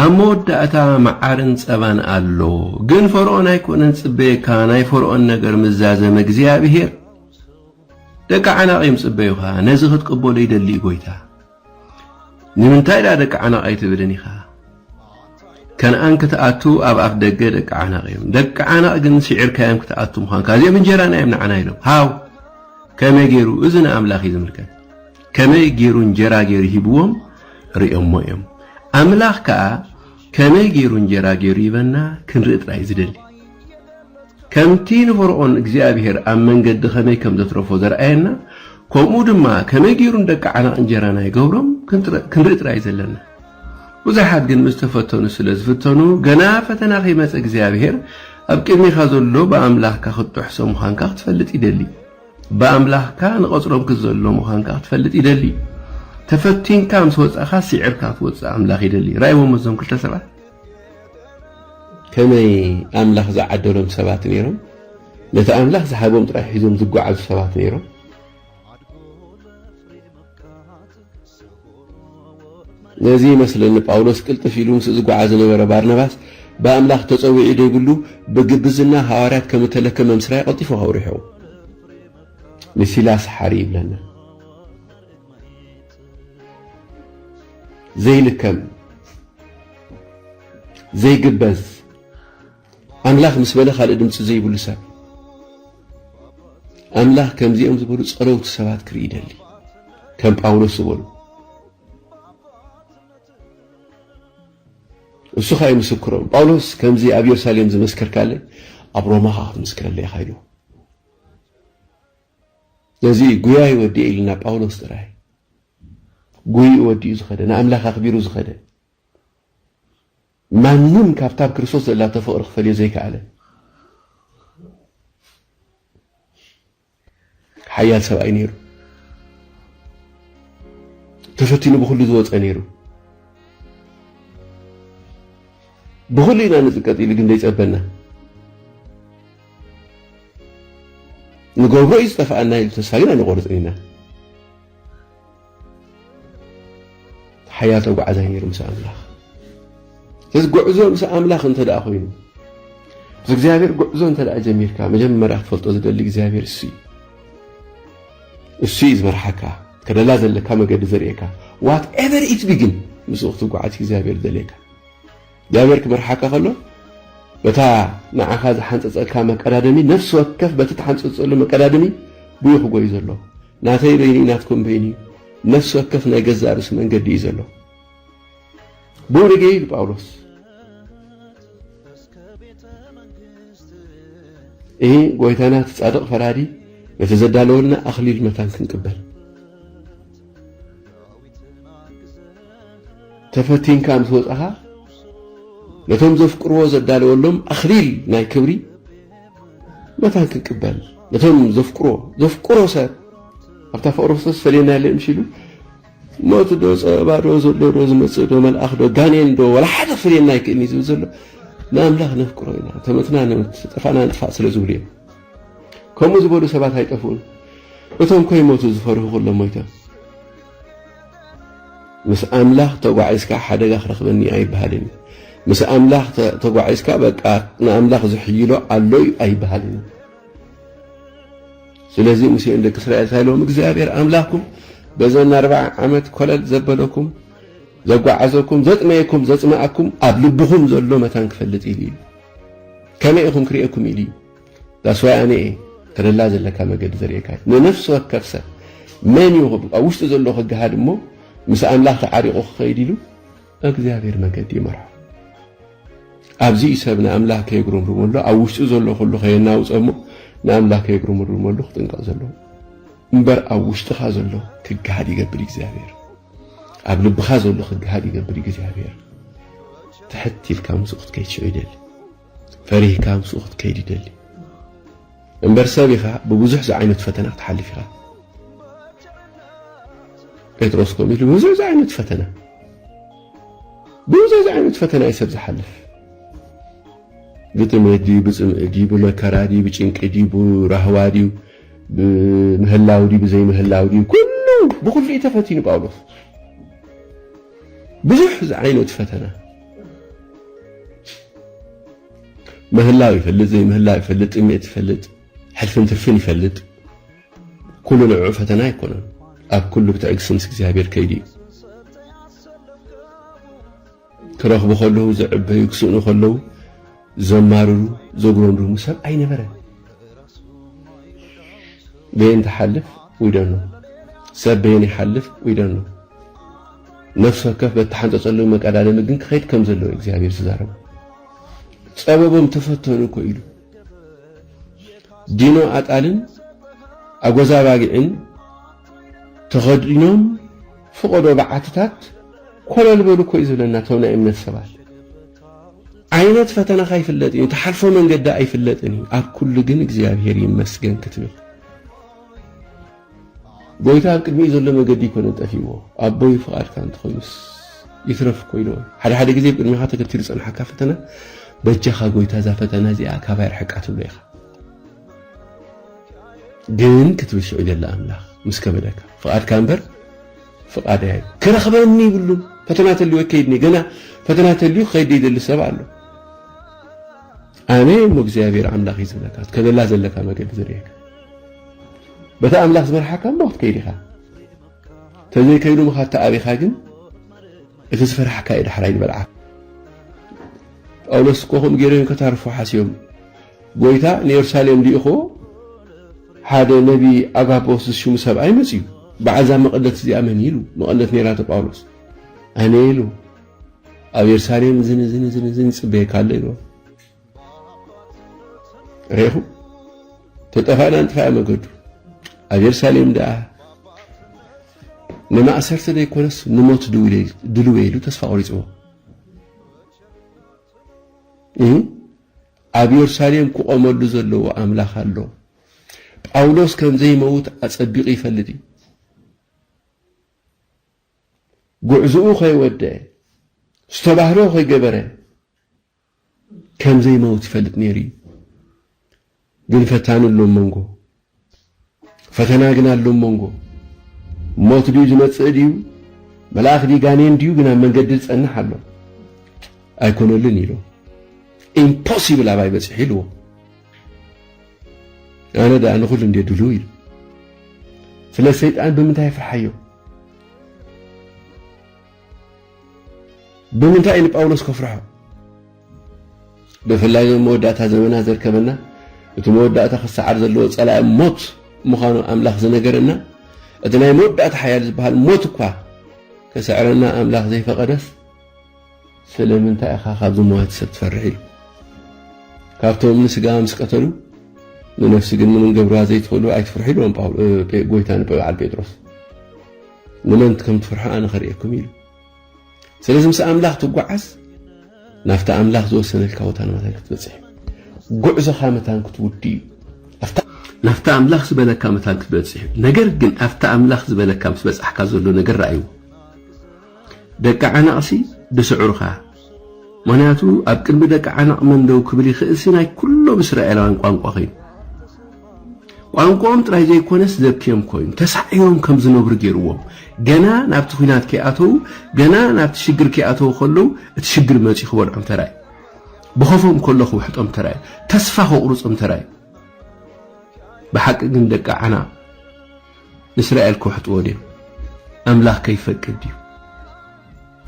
ኣብ መወዳእታ መዓርን ጸባን ኣሎ ግን ፈርኦን ኣይኮነን ጽበየካ ናይ ፈርኦን ነገር ምዛዘመ እግዚኣብሄር ደቂ ዓናቂም ጽበዩኻ ነዚ ክትቅበሎ ይደሊ ጎይታ ንምንታይ ድኣ ደቂ ዓነቕ ኣይትብልን ኢኻ? ከነኣን ክትኣቱ ኣብ ኣፍ ደገ ደቂ ዓነቕ እዮም። ደቂ ዓነቕ ግን ስዒርካዮም ክትኣቱ ምዃንካ። እዚኦም እንጀራና እዮም ንዓና ኢሎም። ሃው! ከመይ ገይሩ? እዚ ንኣምላኽ እዩ ዝምልከት። ከመይ ገይሩ እንጀራ ገይሩ ሂብዎም ርእዮሞ እዮም። ኣምላኽ ከኣ ከመይ ገይሩ እንጀራ ገይሩ ይህበና ክንርኢ ጥራይ ዝደሊ። ከምቲ ንፈርዖን እግዚኣብሄር ኣብ መንገዲ ከመይ ከም ዘትረፎ ዘርኣየና፣ ከምኡ ድማ ከመይ ገይሩ ንደቂ ዓናቕ እንጀራና ይገብሮም ክንርኢ ጥራይ እዩ ዘለና። ብዙሓት ግን ምስ ተፈተኑ ስለ ዝፍተኑ፣ ገና ፈተና ከይመጸ እግዚኣብሄር ኣብ ቅድሜኻ ዘሎ ብኣምላኽካ ክትጥሕሶ ምዃንካ ክትፈልጥ ይደሊ። ብኣምላኽካ ንቐጽሮም ክትዘሎ ምዃንካ ክትፈልጥ ይደሊ። ተፈቲንካ ምስ ወጻእካ ሲዕርካ ትወጽእ ኣምላኽ ይደሊ። ራእይዎም እዞም ክልተ ሰባት ከመይ ኣምላኽ ዝዓደሎም ሰባት ነይሮም። ነቲ ኣምላኽ ዝሃቦም ጥራይ ሒዞም ዝጓዓዙ ሰባት ነይሮም። ነዚ ይመስለኒ ጳውሎስ ቅልጥፍ ኢሉ ምስ ዝጓዓ ዝነበረ ባርናባስ ብኣምላኽ ተጸዊዒ ደይብሉ ብግብዝና ሃዋርያት ከም እተለከ መምስራይ ቀልጢፉ ከውሪሑ ንሲላስ ሓሪ ይብለና። ዘይልከም ዘይግበዝ ኣምላኽ ምስ በለ ካልእ ድምጺ ዘይብሉ ሰብ ኣምላኽ ከምዚኦም ዝበሉ ጸለውቲ ሰባት ክርኢ ይደሊ ከም ጳውሎስ ዝበሉ እሱ ኸኣ ይምስክሮም ጳውሎስ ከምዚ ኣብ የሩሳሌም ዝመስከርካለይ ኣብ ሮማ ኸኣ ክትምስክረለይ ኢኻ ኢሉ ነዚ ጉያይ ወዲኤ ኢልና ጳውሎስ ጥራይ ጉይኡ ወዲኡ ዝኸደ ንኣምላኽ ኣኽቢሩ ዝኸደ ማንም ካብታ ኣብ ክርስቶስ ዘላቶ ፍቕሪ ክፈልዮ ዘይከኣለ ሓያል ሰብኣይ ነይሩ። ተፈቲኑ ብኹሉ ዝወፀ ነይሩ። ብኹሉ ኢና ንፅቀጥ ኢሉ ግን ዘይፀበና ንገብሮ እዩ ዝጠፍኣና ኢሉ ተስፋ ግን ኣይንቆርፅን ኢና። ሓያል ተጓዓዛይ ነይሩ ምስ ኣምላኽ እዚ ጉዕዞ ምስ ኣምላኽ እንተ ደኣ ኮይኑ ምስ እግዚኣብሔር ጉዕዞ እንተ ደኣ ጀሚርካ መጀመርያ ክትፈልጦ ዝደሊ እግዚኣብሔር እሱ እዩ እሱ እዩ ዝመርሓካ ከደላ ዘለካ መገዲ ዘርእየካ ዋት ኤቨር ኢት ቢ ግን ምስኡ ክትጓዓዝ እግዚኣብሔር ደልየካ እግዚኣብሔር ክመርሓካ ከሎ በታ ንዓኻ ዝሓንፀፀልካ መቀዳደሚ ነፍሲ ወከፍ በቲ ትሓንፀፀሉ መቀዳደሚ ጉዩ ክጎዩ ዘለዎ ናተይ በይን'ዩ ናትኩም በይን'ዩ፣ ነፍሲ ወከፍ ናይ ገዛእ ርእሱ መንገዲ እዩ ዘለዎ። ብውልጌ ኢሉ ጳውሎስ እሂ ጎይታና እቲ ጻድቕ ፈራዲ ነቲ ዘዳለወልና ኣኽሊል መታን ክንቅበል ተፈቲንካ ምስ ወጻኻ ነቶም ዘፍቅርዎ ዘዳለወሎም ኣኽሊል ናይ ክብሪ መታን ክንቅበል ነቶም ዘፍቅሮ ዘፍቅሮ ሰብ ኣብታ ፍቅሪ ክርስቶስ ፈለየና የለ ምስ ኢሉ ሞት ዶ ፀበባ ዶ ዘሎ ዶ ዝመፅእ ዶ መልኣኽ ዶ ጋኔን ዶ ወላ ሓደ ክፍልየና ኣይክእልን እዩ ዝብል ዘሎ ንኣምላኽ ነፍቅሮ ኢና ተመትና ነምት ጠፋእና ንጥፋእ ስለ ዝብሉ እዮም ከምኡ ዝበሉ ሰባት ኣይጠፍኡን እቶም ከይሞቱ ዝፈርሁ ኩሎም ሞይቶም ምስ ኣምላኽ ተጓዒዝካ ሓደጋ ክረኽበኒ ኣይበሃልን እዩ። ምስ ኣምላኽ ተጓዒዝካ በቃ ንኣምላኽ ዝሕይሎ ኣሎ እዩ ኣይበሃልን እዩ። ስለዚ ሙሴ ንደቂ እስራኤል እንታይ ኢሎም? እግዚኣብሔር ኣምላኽኩም በዘን ኣርብዓ ዓመት ኮለል ዘበለኩም ዘጓዓዘኩም ዘጥመየኩም ዘጽመኣኩም ኣብ ልብኹም ዘሎ መታን ክፈልጥ ኢሉ እዩ። ከመይ ኢኹም ክርእየኩም ኢሉ እዩ። ዳስ ዋይ ኣነ እየ ተደላ ዘለካ መገዲ ዘርእየካ ንነፍሲ ወከፍ ሰብ መን እዩ ኣብ ውሽጢ ዘሎ ክገሃድ እሞ ምስ ኣምላኽ ተዓሪቑ ክኸይድ ኢሉ እግዚኣብሔር መገዲ ይመርሖ ኣብዚ እዩ ሰብ ንኣምላኽ ከየጉረምርመሉ ኣብ ውሽጢ ዘሎ ኩሉ ከየናውፀ እሞ ንኣምላኽ ከየጉረምርመሉ ክጥንቀቕ ዘለዎ እምበር ኣብ ውሽጥኻ ዘሎ ክገሃድ ይገብር እግዚኣብሔር ኣብ ልብኻ ዘሎ ክገሃድ ይገብር እግዚኣብሔር ትሕት ኢልካ ምስኡ ክትከይድ ሽዑ ይደሊ ፈሪህካ ምስኡ ክትከይድ ይደሊ እምበር ሰብ ኢኻ ብብዙሕ ዝዓይነቱ ፈተና ክትሓልፍ ኢኻ ጴጥሮስ ከምኡ ኢሉ ብብዙሕ ዝዓይነቱ ፈተና ብብዙሕ ዝዓይነቱ ፈተና እዩ ሰብ ዝሓልፍ ብጥሜት ድዩ ብፅምኢ ድዩ ብመከራ ድዩ ብጭንቂ ድዩ ብራህዋ ድዩ ብምህላው ድዩ ብዘይምህላው ድዩ ኩሉ ብኩሉ እዩ ተፈቲኑ ጳውሎስ ብዙሕ ዝዓይነቱ ፈተና ምህላው ይፈልጥ ዘይምህላው ይፈልጥ ጥሜት ይፈልጥ ሕልፍን ትርፍን ይፈልጥ ኩሉ ንዕዑ ፈተና ኣይኮነን ኣብ ኩሉ ብትዕግሲ ምስ እግዚኣብሔር ከይዱ እዩ ክረኽቡ ከለዉ ዝዕበዩ ክስእኑ ከለዉ ዘማርሩ ዘጉረምርሙ ሰብ ኣይነበረን በየን ትሓልፍ we don't know ሰብ በየን ይሓልፍ we don't know ነፍሲ ወከፍ በተሓንጸጸሉ መቀዳደሚ ግን ክኸይድ ከም ዘለዎ እዩ እግዚኣብሔር ዝዛረቡ ጸበቦም ተፈተኑ እኮ ኢሉ ዲኖ ኣጣልን ኣጎዛ ባጊዕን ተኸዲኖም ፍቐዶ በዓትታት ኮለል በሉ እኮ እዩ ዝብለና እቶም ናይ እምነት ሰባት ዓይነት ፈተናኻ ኣይፍለጥን እዩ፣ ትሓልፎ መንገዲ ኣይፍለጥን እዩ፣ ኣብ ኩሉ ግን እግዚኣብሔር ይመስገን ክትብል ጎይታ ኣብ ቅድሚኡ ዘሎ መገዲ ይኮነ ጠፊዎ ኣቦይ ፍቓድካ እንተኾይኑስ ይትረፍ እኮ ኢለዎ ሓደ ሓደ ግዜ ኣብ ቅድሚኻ ተገቲሩ ዝጸንሓካ ፈተና በጃኻ ጎይታ እዛ ፈተና እዚኣ ካባይ ርሕቃ ትብሎ ኢኻ ግን ክትብል ሽዑ ገለ ኣምላኽ ምስ ከበደካ ፍቓድካ እምበር ፍቃደይ ኣዩ ክረክበኒ ይብሉን ፈተና ተልዩ ኣይከይድን እየ ገና ፈተና ተልዩ ክከይድ ደይደሊ ሰብ ኣሎ ኣነ እሞ እግዚኣብሔር ኣምላክ እዩ ዝብለካ ትከደላ ዘለካ መገዲ ዝርእየካ በቲ ኣምላክ ዝመርሓካ እሞ ክትከይድ ኢካ ተዘይከይዱ ምካ ተኣቢካ ግን እቲ ዝፈራሕካ እዩ ዳሕራይ ዝበልዓ ጳውሎስ እኮ ከምኡ ገይሮም ከታርፉ ሓስዮም ጐይታ ንየሩሳሌም ልኢኽዎ ሓደ ነብዪ ኣጋቦስ ዝሽሙ ሰብኣይ መጺኡ በዓል እዛ መቐደት እዚኣ መን ኢሉ መቐደት ነይራቶ ጳውሎስ ኣነ ኢሉ ኣብ የሩሳሌም እዝን እዝን እዝን እዝን ይጽበየካ ኣሎ ኢልዎ ሬኹ ተጠፋእና ንጥፋእ መገዱ ኣብ የሩሳሌም ደኣ ንማእሰርተ ዘይኮነስ ንሞት ድልዌ ኢሉ ተስፋ ቆሪፅዎ ኣብ የሩሳሌም ክቖመሉ ዘለዎ ኣምላኽ ኣሎ። ጳውሎስ ከም ዘይመውት ኣጸቢቑ ይፈልጥ እዩ። ጉዕዝኡ ከይወደአ፣ ዝተባህሎ ከይገበረ ከም ዘይመውት ይፈልጥ ነይሩ እዩ። ግን ፈታኒ ኣሎ ኣብ መንጎ ፈተና ግን ኣሎ ኣብ መንጎ። ሞት ድዩ ዝመጽእ ድዩ መልኣኽ ድዩ ጋኔን ድዩ ግን ኣብ መንገዲ ዝጸንሕ ኣሎ። ኣይኮነልን ኢሎ ኢምፖሲብል ኣባይ በጺሑ ኢልዎ ኣነ ደኣ ንኹሉ እንደ ድልው ኢሉ ስለ ሰይጣን ብምንታይ ፍርሓዮ ብምንታይ ንጳውሎስ ከፍርሖ ብፍላይ እዚ ኣብ መወዳእታ ዘመናት ዘርከበና እቲ መወዳእታ ክሰዓር ዘለዎ ጸላኢ ሞት ምዃኑ ኣምላኽ ዝነገረና እቲ ናይ መወዳእታ ሓያል ዝበሃል ሞት እኳ ክስዕረና ኣምላኽ ዘይፈቐደስ ስለምንታይ ኢኻ ካብ ዝመዋት ሰብ ትፈርሕ ኢሉ ካብቶም ንስጋ ምስ ቀተሉ ንነፍሲ ግን ምንም ገብርዋ ዘይትኽእሉ ኣይትፍርሑ ኢልዎም ጎይታ ንበዓል ጴጥሮስ ንመን ከም ትፍርሑ ኣነ ኸርእየኩም ኢሉ ስለዚ ምስ ኣምላኽ ትጓዓዝ ናብቲ ኣምላኽ ዝወሰነልካ ቦታ ንመታን ክትበጽሕ ጉዕዞኻ መታን ክትውድ እዩ ናብቲ ኣምላኽ ዝበለካ መታን ክትበጽሕ እዩ ነገር ግን ኣብቲ ኣምላኽ ዝበለካ ምስ በጻሕካ ዘሎ ነገር ረኣይዎ ደቂ ዓናቕሲ ድስዕሩኻ ምክንያቱ ኣብ ቅድሚ ደቂ ዓናቕ መንደው ክብል ይኽእል ሲ ናይ ኩሎም እስራኤላውያን ቋንቋ ኮይኑ ቋንቋኦም ጥራይ ዘይኮነስ ዘብኪዮም ኮይኑ ተሳዒሮም ከም ዝነብሩ ገይርዎም። ገና ናብቲ ኲናት ከይኣተዉ ገና ናብቲ ሽግር ከይኣተዉ ከለዉ እቲ ሽግር መጺኡ ክበልዖም ተራእዩ። ብኸፎም ከሎ ክውሕጦም ተራእዩ። ተስፋ ከቑርጾም ተራእዩ። ብሓቂ ግን ደቂ ዓና ንእስራኤል ክውሕጥዎ ድዮም? ኣምላኽ ከይፈቅድ ድዩ?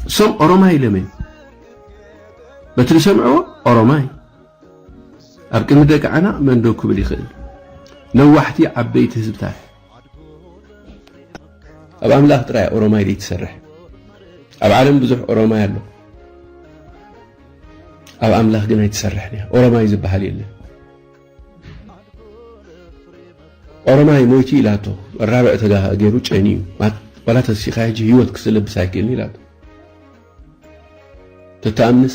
እሶም ኦሮማይ ኢሎም እዮም። በቲ ዝሰምዕዎ ኦሮማይ ኣብ ቅድሚ ደቂ ዓና መን ደው ክብል ይኽእል? ነዋሕቲ ዓበይቲ ህዝብታት። ኣብ ኣምላኽ ጥራይ ኦሮማይ ዘይትሰርሕ። ኣብ ዓለም ብዙሕ ኦሮማይ ኣሎ፣ ኣብ ኣምላኽ ግን ኣይትሰርሕን እያ። ኦሮማይ ዝበሃል የለን። ኦሮማይ ሞይቲ ኢላቶ ራብዕ ተጋ ገይሩ ጨኒ እዩ ዋላ ተሲኻ ሕጂ ህይወት ክስለብስ ኣይክእልን ኢላቶ ተተኣምንስ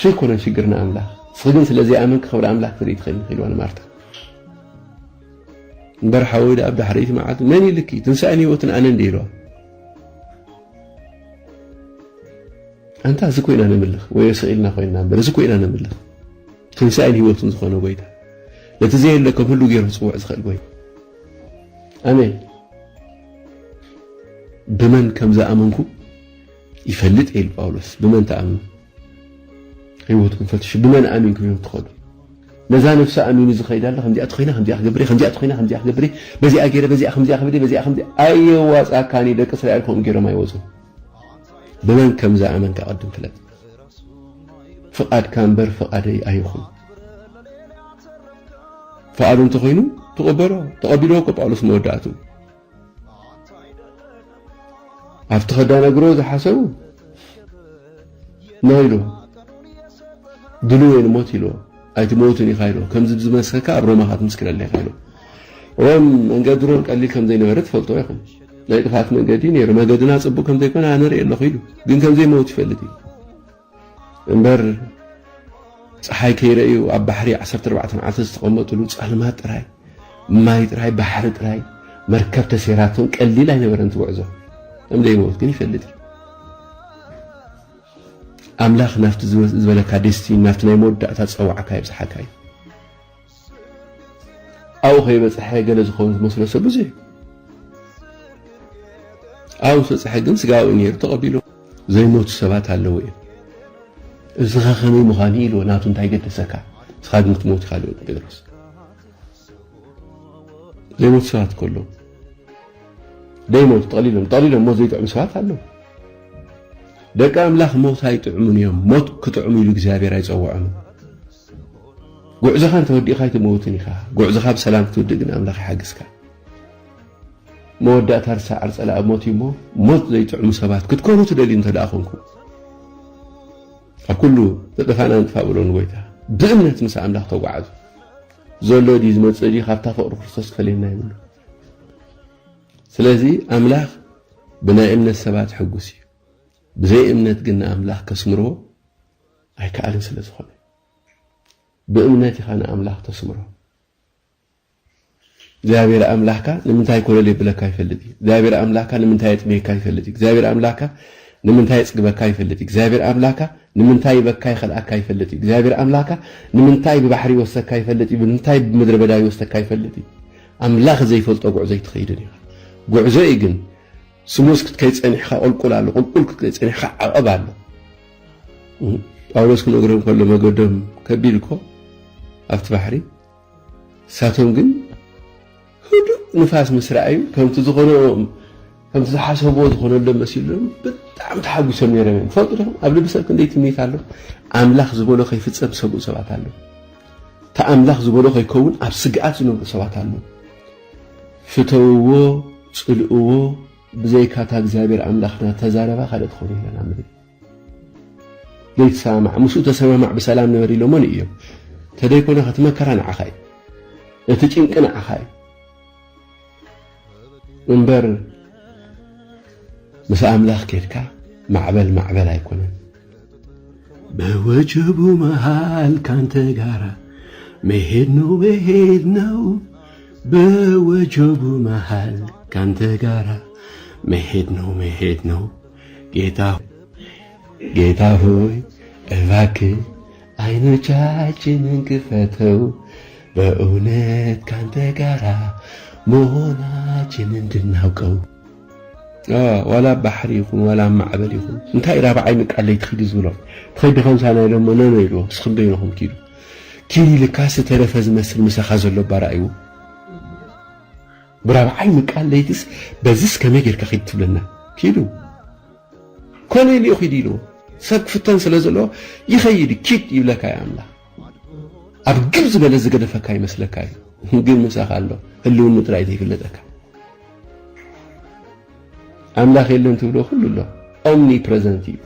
ሸይኮነን ሽግርና ኣምላኽ ንስኺ ግን ስለ ዘይኣመንኪ ክብሪ ኣምላኽ ትርኢ ትኽእሊ ኢልዋ ንማርታ እምበር ሓወይ ደኣ ኣብ ዳሕረይቲ መዓልቲ መን ኢልኪ ትንሳኤን ህይወትን ኣነ እንደ ኢልዋ ኣንታ እዚ ኮይና ነምልኽ ወይ ስቕ ኢልና ኮይንና እምበር እዚ ኮይና ነምልኽ ትንሳኤን ህይወትን ዝኾነ ጎይታ ነቲ ዘየለ ከም ህሉ ገይሩ ክፅውዕ ዝኽእል ጎይታ ኣሜን ብመን ከም ዝኣመንኩ ይፈልጥ እየ ኢሉ ጳውሎስ ብመን ትኣምኑ ህይወትኩም ፈትሹ ብመን ኣሚንኩም ኢኹም ትኸዱ ነዛ ነፍሲ ኣሚኑ ዝኸይድ ኣሎ ከምዚኣ ትኮይና ከምዚኣ ክገብር ከምዚኣ ትኮይና ከምዚኣ ክገብር በዚኣ ገይረ በዚኣ ከምዚኣ ክብል በዚኣ ከምዚ ኣየዋፃካኒ ደቂ እስራኤል ከምኡ ገይሮም ኣይወፁ ብመን ከም ዝኣመንካ ቅድም ፍለጥ ፍቓድካ እምበር ፍቓደይ ኣይኹን ፍቓዱ እንተኮይኑ ተቐበሎ ተቐቢልዎ እኮ ጳውሎስ መወዳእቱ ኣብቲ ከዳነግሮ ዝሓሰቡ ናይ ኢሉ ድልው ወይ ንሞት ኢሉ ኣይትመውትን ኢኻ ኢሉ ከምዚ ብዝመስከካ ኣብ ሮማ ክትምስክረለ ኢኻ ኢሉ ሮም መንገዲ ሮም ቀሊል ከም ዘይነበረ ትፈልጦ ኢኹም ናይ ጥፋት መንገዲ ነይሩ መገድና ጽቡቅ ከም ዘይኮነ ኣነ ርእየ ኣለኹ ኢሉ ግን ከም ዘይመውት ይፈልጥ እዩ እምበር ጸሓይ ከይረእዩ ኣብ ባሕሪ ዓሰርተ ኣርባዕተ መዓልቲ ዝተቐመጥሉ ጸልማት ጥራይ፣ ማይ ጥራይ፣ ባሕሪ ጥራይ፣ መርከብ ተሰይራቶም ቀሊል ኣይነበረን እቲ ጉዕዞ። ከም ዘይመውት ግን ይፈልጥ እዩ። ኣምላኽ ናብቲ ዝበለካ ዴስቲኒ ናብቲ ናይ መወዳእታ ጸዋዕካ የብጽሓካ እዩ። ኣብኡ ከይበጽሐ ገለ ዝኸውን ዝመስሎ ሰብ ብዙሕ እዩ። ኣብኡ ምስ በጽሐ ግን ስጋዊ ነይሩ ተቐቢሉ ዘይሞቱ ሰባት ኣለዉ እዮም። እስኻ ከመይ ምዃኑ ኢልዎ ናቱ እንታይ ገደሰካ እስኻ ግን ክትሞት ኢኻ ልበል ጴጥሮስ ዘይሞቱ ሰባት ከሎ ደይሞቱ ጠቕሊሎም ጠቕሊሎም ሞት ዘይጥዕሙ ሰባት ኣለዉ ደቂ ኣምላኽ ሞት ኣይጥዕሙን እዮም ሞት ክጥዕሙ ኢሉ እግዚኣብሔር ኣይጸውዖምን ጉዕዞኻ እንተወዲእካ ኣይትመውትን ኢኻ ጉዕዞኻ ብሰላም ክትውድእ ግን ኣምላኽ ይሓግዝካ መወዳእታ ርሳዓር ጸላኢ ሞት እዩ እሞ ሞት ዘይጥዕሙ ሰባት ክትኮኑ ትደልዩ እንተደኣ ኮንኩም ኣብ ኩሉ ተጠፋእና ንጥፋእ በሎ ንጎይታ ብእምነት ምስ ኣምላኽ ተጓዓዙ ዘሎ ድዩ ዝመጽእ ድዩ ካብታ ፍቕሪ ክርስቶስ ክፈልየና ይብሉ ስለዚ ኣምላኽ ብናይ እምነት ሰባት ሕጉስ እዩ ብዘይ እምነት ግን ንኣምላኽ ከስምርዎ ኣይከኣልን ስለ ዝኾነ ብእምነት ኢኻ ንኣምላኽ ተስምሮ እግዚኣብሔር ኣምላኽካ ንምንታይ ኮለል የብለካ ይፈልጥ እዩ እግዚኣብሔር ኣምላኽካ ንምንታይ የጥምየካ ይፈልጥ እዩ እግዚኣብሔር ኣምላኽካ ንምንታይ የፅግበካ ይፈልጥ እዩ እግዚኣብሔር ኣምላኽካ ንምንታይ ይበካ ይኸልኣካ ይፈልጥ እዩ እግዚኣብሔር ኣምላኽካ ንምንታይ ብባሕሪ ይወሰካ ይፈልጥ እዩ ንምንታይ ብምድረ በዳ ይወሰካ ይፈልጥ እዩ ኣምላኽ ዘይፈልጦ ጉዕዞ ኣይትኸይድን ኢኻ ጉዕዞ እዩ ግን ስሙስ ክትከይድ ፀኒሕካ ቁልቁል ኣሎ ቁልቁል ክትከይድ ፀኒሕካ ዓቐብ ኣሎ ጳውሎስ ክነግሮም ከሎ መገዶም ከቢድ እኮ ኣብቲ ባሕሪ ንሳቶም ግን ህዱእ ንፋስ ምስ ረኣዩ ከምቲ ዝኾነ ከምቲ ዝሓሰብዎ ዝኾነሎም መሲሎም ብጣዕሚ ተሓጒሶም ነይሮም እዮም ፈልጡ ዲኹም ኣብ ልቢ ሰብ ክንደይ ትምኒት ኣሎ ኣምላኽ ዝበሎ ከይፍፀም ዝሰግኡ ሰባት ኣሎ እቲ ኣምላኽ ዝበሎ ከይከውን ኣብ ስግኣት ዝነብሩ ሰባት ኣሎ ፍተውዎ ፅልእዎ ብዘይካታ እግዚኣብሔር ኣምላኽና ተዛረባ ካልእ ትኾኑ ኢለና ምድሪ ዘይትሰማማዕ ምስኡ ተሰማማዕ ብሰላም ንበር ኢሎሞ ንእዮም ተደይኮነ ከቲ መከራ ንዓኻ እዩ እቲ ጭንቂ ንዓኻ እዩ እምበር ምስ ኣምላኽ ኬድካ ማዕበል ማዕበል ኣይኮነን በወጀቡ መሃል ካንተ ጋራ መሄድ ነው መሄድ ነው በወጀቡ መሃል ካንተ ጋራ መሄድ ነው መሄድ ነው ጌታ ሆይ እባክህ ዓይኖቻችንን ክፈተው በእውነት ካንተ ጋራ መሆናችን እንድናውቀው ዋላ ኣብ ባሕሪ ይኹን ዋላ ኣብ ማዕበል ይኹን እንታይ ራብዓይ ምቃለይ ትኺዱ ዝብሎም ትኸዲ ከምሳና ኢሎሞ ነኖ ኢልዎ ንስኹም በይንኹም ኪዱ ኪዱ ኢልካስ ዝተረፈ ዝመስል ምሳኻ ዘሎ ባራእይዎ ብራብዓይ ምቃል ለይትስ በዝስ ከመይ ጌርካ ኪድ ትብለና ኪዱ ኮነል እዩ ኪድ ኢልዎ ሰብ ክፍተን ስለ ዘለዎ ይኸይድ እዩ ኪድ ይብለካ እዩ ኣምላኽ ኣብ ግብ ዝበለ ዝገደፈካ ይመስለካ እዩ ግን ምሳኻ ኣሎ ህልውኑ ጥራይ ዘይፍለጠካ ኣምላኽ የለን ትብሎ ኩሉ ኣሎ ኦምኒ ፕረዘንት እዩ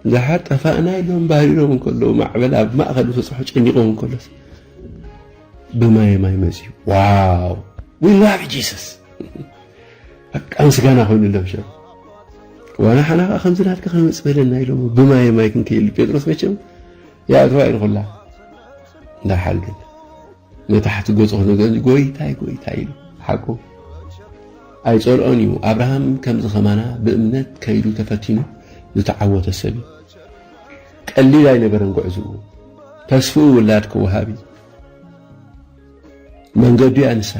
ብዙሓት ጠፋእና ኢሎም ባህሪሮም እንከለዉ ማዕበል ኣብ ማእኸል ዝበፅሖ ጨኒቖም እንከሎስ ብማየ ማይ መፅዩ ዋው ዊ ላቭ ጂሰስ በቃ ምስጋና ኮይኑሎም ሸ ዋና ሓና ከዓ ከምዚ ናትካ ከመፅ በለና ኢሎም ብማየ ማይ ክንከይሉ ጴጥሮስ መቸም ያእተዋ ኢልኩላ እንዳሓል ግን ንታሕቲ ገጹ ክነገር ጎይታይ ጎይታይ ኢሉ ሓቁ ኣይጸልኦን እዩ። ኣብርሃም ከምዚ ከማና ብእምነት ከይዱ ተፈቲኑ ዝተዓወተ ሰብ እዩ። ቀሊል ኣይነበረን ጉዕዝኡ። ተስፍኡ ውላድ ክወሃብ እዩ። መንገዱ እያ ንሳ።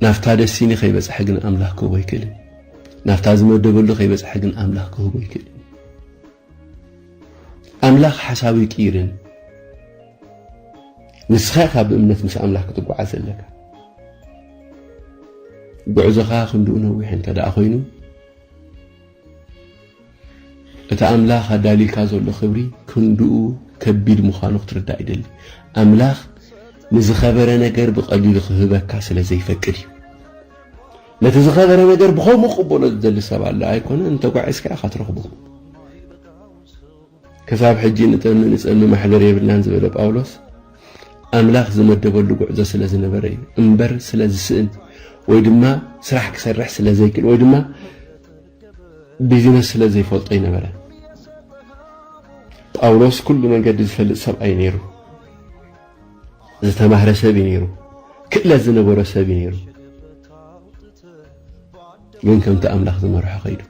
ናብታ ደሲኒ ከይበጽሐ ግን ኣምላኽ ክህቦ ኣይክእልን። ናብታ ዝመደበሉ ከይበጽሐ ግን ኣምላኽ ክህቦ ኣይክእልን። ኣምላኽ ሓሳቡ ይቅይርን ንስኻ ኢኻ ብእምነት ምስ ኣምላኽ ክትጓዓዝ ዘለካ ጉዕዞኻ ክንድኡ ነዊሕ እንተ ደኣ ኮይኑ እቲ ኣምላኽ ኣዳልዩልካ ዘሎ ክብሪ ክንድኡ ከቢድ ምዃኑ ክትርዳእ ይደሊ ኣምላኽ ንዝኸበረ ነገር ብቐሊሉ ክህበካ ስለ ዘይፈቅድ እዩ ነቲ ዝኸበረ ነገር ብኸምኡ ክቕበሎ ዝደሊ ሰብ ኣሎ ኣይኮነን፣ እንተጓዒዝካ ኢኻ ትረኽቦ። ክሳብ ሕጂ ንጠሚ ንጸሚ ማሕደር የብልናን ዝበለ ጳውሎስ ኣምላኽ ዝመደበሉ ጉዕዞ ስለ ዝነበረ እዩ እምበር ስለ ዝስእን ወይ ድማ ስራሕ ክሰርሕ ስለ ዘይክእል ወይ ድማ ቢዝነስ ስለ ዘይፈልጦ ይነበረ ጳውሎስ ኩሉ መንገዲ ዝፈልጥ ሰብኣይ ነይሩ ዝተማህረ ሰብ እዩ ነይሩ፣ ክእለት ዝነበሮ ሰብ እዩ ነይሩ። ግን ከምቲ ኣምላኽ ዝመርሖ ከይዱ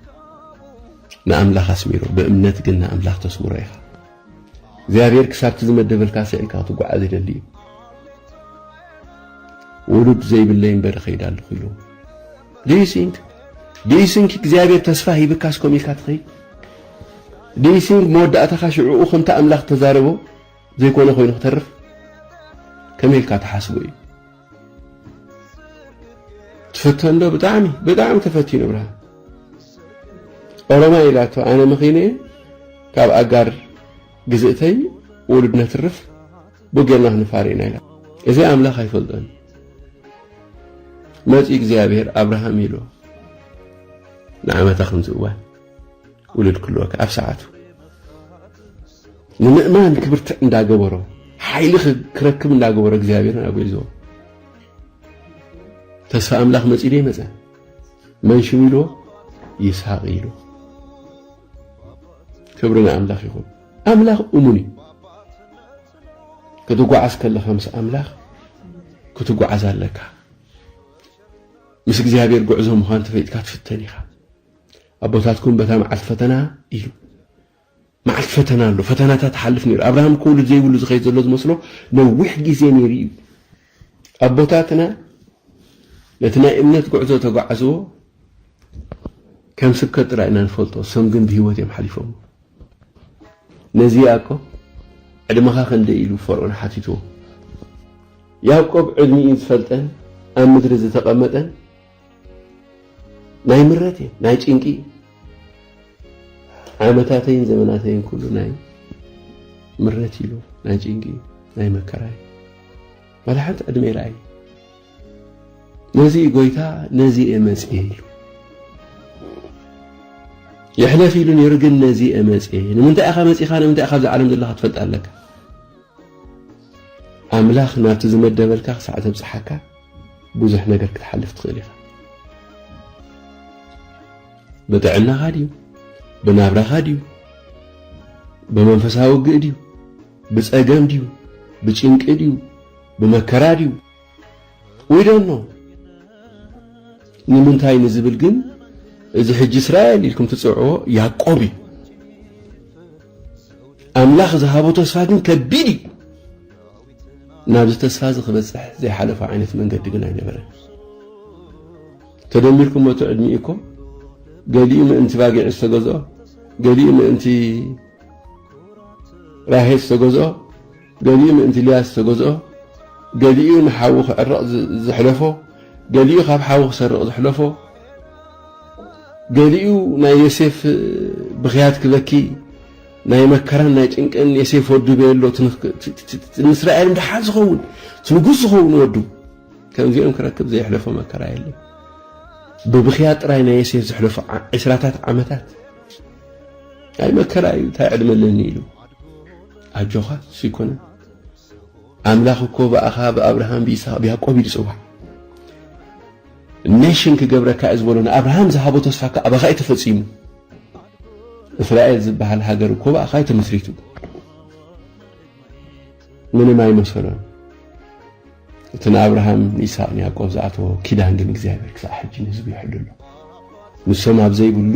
ንኣምላኽ ኣስሚሩ። ብእምነት ግን ንኣምላኽ ተስምሮ ኢኻ። እግዚኣብሔር ክሳብቲ ዝመደበልካ ስዒልካ ክትጓዓዝ ይደሊ እዩ። ውሉድ ዘይብለይ እምበር እኸይድ ኣለኹ ኢሉ ድዩሲንክ ድዩሲንክ እግዚኣብሔር ተስፋ ሂብካስ ከምኡ ኢልካ ትኸይድ ድዩሲንክ መወዳእታኻ ሽዕኡ ከምቲ ኣምላኽ ተዛረቦ ዘይኮነ ኮይኑ ክተርፍ ከመይ ኢልካ ትሓስቦ እዩ ትፈተን ዶ ብጣዕሚ ብጣዕሚ ተፈቲኑ ብርሃን ኦሮማ ኢላቶ ኣነ መኺነ ካብ ኣጋር ግዝእተይ ውሉድ ነትርፍ ብጌርና ክንፋር ኢና ኢላ እዚ ኣምላኽ ኣይፈልጦን መፂ እግዚኣብሔር ኣብርሃም ኢሎ ንዓመታ ከምዚ እዋን ውሉድ ክህልወካ ኣብ ሰዓቱ ንምእማን ክብርትዕ እንዳገበሮ ሓይሊ ክረክብ እንዳገበሮ እግዚኣብሔርን ኣጎይዝዎ ተስፋ ኣምላኽ መጺኡ ደይ መጸ መን ሽሙ ኢልዎ ይስሐቅ ኢልዎ ክብሪ ንኣምላኽ ይኹን ኣምላኽ እሙን እዩ ክትጓዓዝ ከለኻ ምስ ኣምላኽ ክትጓዓዝ ኣለካ ምስ እግዚኣብሔር ጉዕዞ ምዃን ተፈይጥካ ትፍተን ኢኻ ኣቦታትኩም በታ መዓልቲ ፈተና ኢሉ መዓልቲ ፈተና ኣሎ ፈተናታት ትሓልፍ ነይሩ ኣብርሃም እኮ ውሉድ ዘይብሉ ዝኸይድ ዘሎ ዝመስሎ ነዊሕ ግዜ ነይሩ እዩ ኣቦታትና ነቲ ናይ እምነት ጉዕዞ ተጓዓዝዎ ከም ስብከት ጥራይ ኢና ንፈልጦ ሰም ግን ብሂወት እዮም ሓሊፎም ነዚኣ እኮ ዕድመኻ ክንደይ ኢሉ ፈርዖን ሓቲትዎ ያዕቆብ ዕድሚኡ ዝፈልጠን ኣብ ምድሪ ዝተቐመጠን ናይ ምረት እየ ናይ ጭንቂ እዩ ዓመታተይን ዘመናተይን ኩሉ ናይ ምረት ኢሉ ናይ ጭንቂ እዩ ናይ መከራ እዩ ዋላ ሓንቲ ዕድመ ይርኣይ ነዚ ጎይታ ነዚ እየ መፅየ ኢሉ ይሕለፍ ኢሉ ነይሩ ግን ነዚ እየ መፅየ ንምንታይ ኢኻ መፂኻ ንምንታይ ኢኻ ኣብዚ ዓለም ዘለካ ትፈልጥ ኣለካ ኣምላኽ ናብቲ ዝመደበልካ ክሳዕ ዘብፅሓካ ብዙሕ ነገር ክትሓልፍ ትኽእል ኢኻ። ብጥዕናኻ ድዩ ብናብራኻ ድዩ ብመንፈሳዊ ግእ ድዩ ብጸገም ድዩ ብጭንቂ ድዩ ብመከራ ድዩ ዊዶኖ ንምንታይ ንዝብል ግን እዚ ሕጂ እስራኤል ኢልኩም ትጽውዕዎ ያዕቆብ እዩ ኣምላኽ ዝሃቦ ተስፋ ግን ከቢድ እዩ ናብዚ ተስፋዚ ክበጽሕ ዘይሓለፎ ዓይነት መንገዲ ግን ኣይነበረን። ተደሚርኩሞ እቲ ዕድሚኡ እኮ ገሊኡ ምእንቲ ባጊዕ ዝተገዝኦ፣ ገሊኡ ምእንቲ ራሄ ዝተገዝኦ፣ ገሊኡ ምእንቲ ልያ ዝተገዝኦ፣ ገሊኡ ንሓዉ ክዕረቕ ዘሕለፎ፣ ገሊኡ ካብ ሓዉ ክሰርቕ ዘሕለፎ፣ ገሊኡ ናይ ዮሴፍ ብኽያት ክበኪ ናይ መከራን ናይ ጭንቅን የሴፍ ወዱ ቤሎ ንእስራኤል ድሓን ዝኸውን ንጉስ ዝኸውን ወዱ ከምዚኦም ክረክብ ዘየሕለፎ መከራ የለን ብብኽያ ጥራይ ናይ የሴፍ ዝሕለፎ ዕስራታት ዓመታት ናይ መከራ እዩ እንታይ ዕድመ ኣለኒ ኢሉ ኣጆኻ እሱ ይኮነ ኣምላኽ እኮ ብኣኻ ብኣብርሃም ብይስሐቅ ብያዕቆብ እዩ ዝፅዋዕ ኔሽን ክገብረካ እየ ዝበሎ ንኣብርሃም ዝሃቦ ተስፋ ከ ኣባኻ እዩ ተፈጺሙ። እስራኤል ዝበሃል ሃገር እኮ ብኣኻ እዩ ተመስሪቱ። ምንም ኣይመሰሎን። እቲ ንኣብርሃም ንይስሃቅ ንያዕቆብ ዝኣተዎ ኪዳን ግን እግዚኣብሔር ክሳዕ ሕጂ ንህዝቡ ይሕሉ ኣሎ። ንሶም ኣብ ዘይብሉ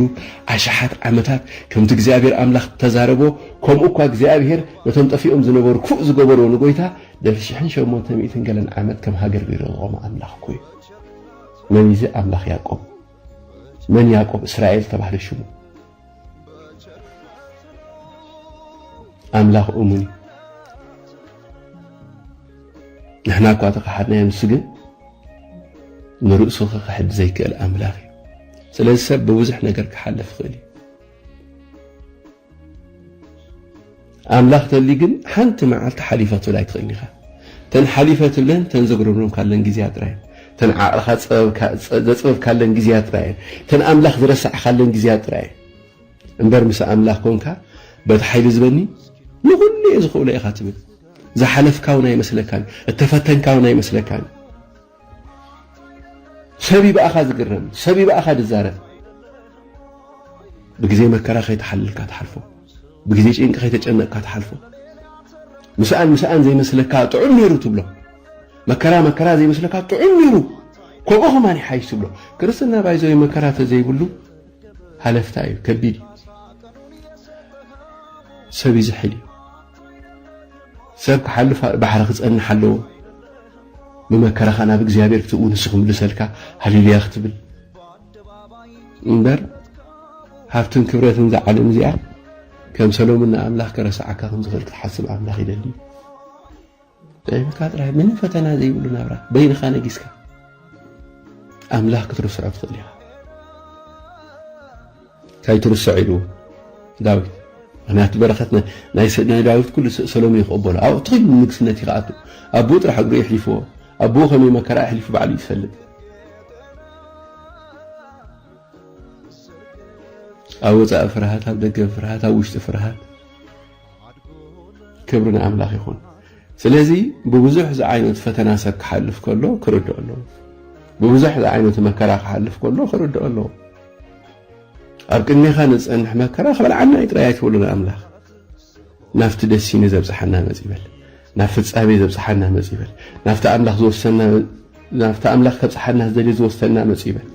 ኣሽሓት ዓመታት ከምቲ እግዚኣብሔር ኣምላኽ እተዛረቦ ከምኡ እኳ እግዚኣብሔር ነቶም ጠፊኦም ዝነበሩ ክፉእ ዝገበርዎ ንጎይታ ድሕሪ ሽሕን ሸሞንተ ሚእትን ገለን ዓመት ከም ሃገር ገይሩ ዘቖመ ኣምላኽ እኮ እዩ። መን እዚ ኣምላኽ ያዕቆብ? መን ያዕቆብ እስራኤል ዝተባህለ ሽሙ? ኣምላኽ እሙን እዩ ንሕና እኳ ተኸሓድናዮ ንሱ ግን ንርእሱ ክኽሕድ ዘይክእል ኣምላኽ እዩ ስለዚ ሰብ ብብዙሕ ነገር ክሓልፍ ይኽእል እዩ ኣምላኽ ተልዩ ግን ሓንቲ መዓልቲ ሓሊፋትብል ኣይትኽእልን ኢኻ ተን ሓሊፈ ትብለን ተን ዘጉረምረምካለን ግዜያት ጥራይ እየን ተን ዓቕልኻ ዘጽበብካለን ግዜያት ጥራይ እየን ተን ኣምላኽ ዝረሳዕካለን ግዜያት ጥራይ እየን እምበር ምስ ኣምላኽ ኮንካ በቲ ሓይሊ ዝበኒ ንኹሉ እየ ዝኽእሎ ኢኻ ትብል ዝሓለፍካ እውን ኣይመስለካን እተፈተንካ እውን ኣይመስለካን ሰብ እዩ ብኣኻ ዝግረም፣ ሰብ እዩ ብኣኻ ዝዛረብ። ብግዜ መከራ ከይተሓለልካ ትሓልፎ፣ ብግዜ ጭንቂ ከይተጨነቕካ ትሓልፎ። ምስኣን ምስኣን ዘይመስለካ ጥዑም ነይሩ ትብሎ፣ መከራ መከራ ዘይመስለካ ጥዑም ነይሩ ከምኡ ከማን ይሓይሽ ትብሎ። ክርስትና ባይዘዊ መከራ ተዘይብሉ ሃለፍታ እዩ፣ ከቢድ እዩ፣ ሰብ ይዝሕል እዩ። ሰብ ክሓልፍ ኣብ ባሕሪ ክጸንሕ ኣለዎ ብመከራኻ ናብ እግዚኣብሔር ክትእዊ ንሱ ክምልሰልካ ሃሌሉያ ክትብል እምበር ሃብትን ክብረትን እዛ ዓለም እዚኣ ከም ሰሎሙን ንኣምላኽ ከረስዓካ ከም ዝኽእል ክትሓስብ ኣምላኽ ይደሊ ጠቢብካ ጥራሕ ምንም ፈተና ዘይብሉ ናብራ በይንኻ ነጊስካ ኣምላኽ ክትርስዖ ትኽእል ኢኻ ካይትርሰዕ ኢሉ ዳዊት ምክንያቱ በረኸት ናይ ዳዊት ኩሉ ሰሎሜ ክቕበሎ ኣብኡ ትኺሉ ንግስነት እዩ ክኣቱ ኣቦኡ ጥራሕ እግሩ የሕሊፍዎ ኣቦኡ ከመይ መከራ ኣሕሊፉ ባዕሉ እዩ ዝፈልጥ ኣብ ወፃኢ ፍርሃት ኣብ ደገ ፍርሃት ኣብ ውሽጢ ፍርሃት ክብሪ ንኣምላኽ ይኹን። ስለዚ ብብዙሕ ዝዓይነቱ ፈተና ሰብ ክሓልፍ ከሎ ክርድኦ ኣለዎ። ብብዙሕ ዝዓይነቱ መከራ ክሓልፍ ከሎ ክርድኦ ኣለዎ። ኣብ ቅድሜኻ ንዝጸንሕ መከራ ክበልዓና እዩ ጥራይ ኣይትበሉ ንኣምላኽ ናብቲ ደሲኒ ዘብጽሓና መጽ ይበል ናብ ፍጻሜ ዘብጽሓና መጽ ይበል ናብቲ ኣምላኽ ዝወሰና ናብቲ ኣምላኽ ከብጽሓና ዝደልየ ዝወሰና መጽ ይበል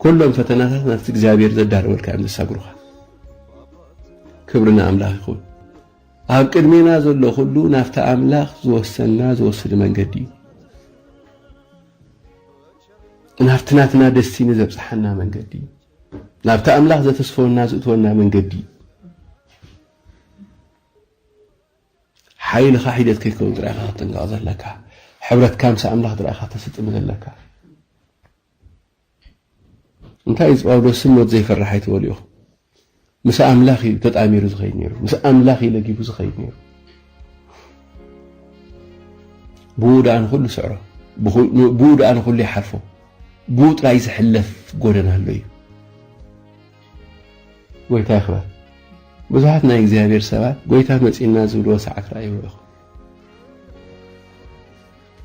ኩሎም ፈተናታት ናብቲ እግዚኣብሔር ዘዳለወልካ እዮም ዘሳግሩኻ ክብሪ ንኣምላኽ ይኹን። ኣብ ቅድሜና ዘሎ ኩሉ ናብቲ ኣምላኽ ዝወሰና ዝወስድ መንገዲ እዩ። ናብቲ ናትና ደስቲኒ ዘብጽሓና መንገዲ እዩ። ናብቲ ኣምላኽ ዘተስፈወና ዝእትወና መንገዲ እዩ። ሓይልኻ ሒደት ከይከውን ጥራይ ኢኻ ክትጥንቀቕ ዘለካ። ሕብረትካ ምስ ኣምላኽ ጥራይ ኢኻ ተስጥም ዘለካ። እንታይ እጽዋው ዶ ስም ሞት ዘይፈርሕ ኣይትበሉ ኢኹም ምስ ኣምላኽ እዩ ተጣሚሩ ዝኸይድ ነይሩ ምስ ኣምላኽ እዩ ለጊቡ ዝኸይድ ነይሩ ብኡ ደኣ ንኹሉ ስዕሮ ብኡ ደኣ ንኹሉ ይሓልፎ ብኡ ጥራይ ዝሕለፍ ጎደና ኣሎ እዩ ጎይታ ይኽበር ብዙሓት ናይ እግዚኣብሔር ሰባት ጎይታ መፂና ዝብልዎ ሰዓት ረኣይዎ ኢኹም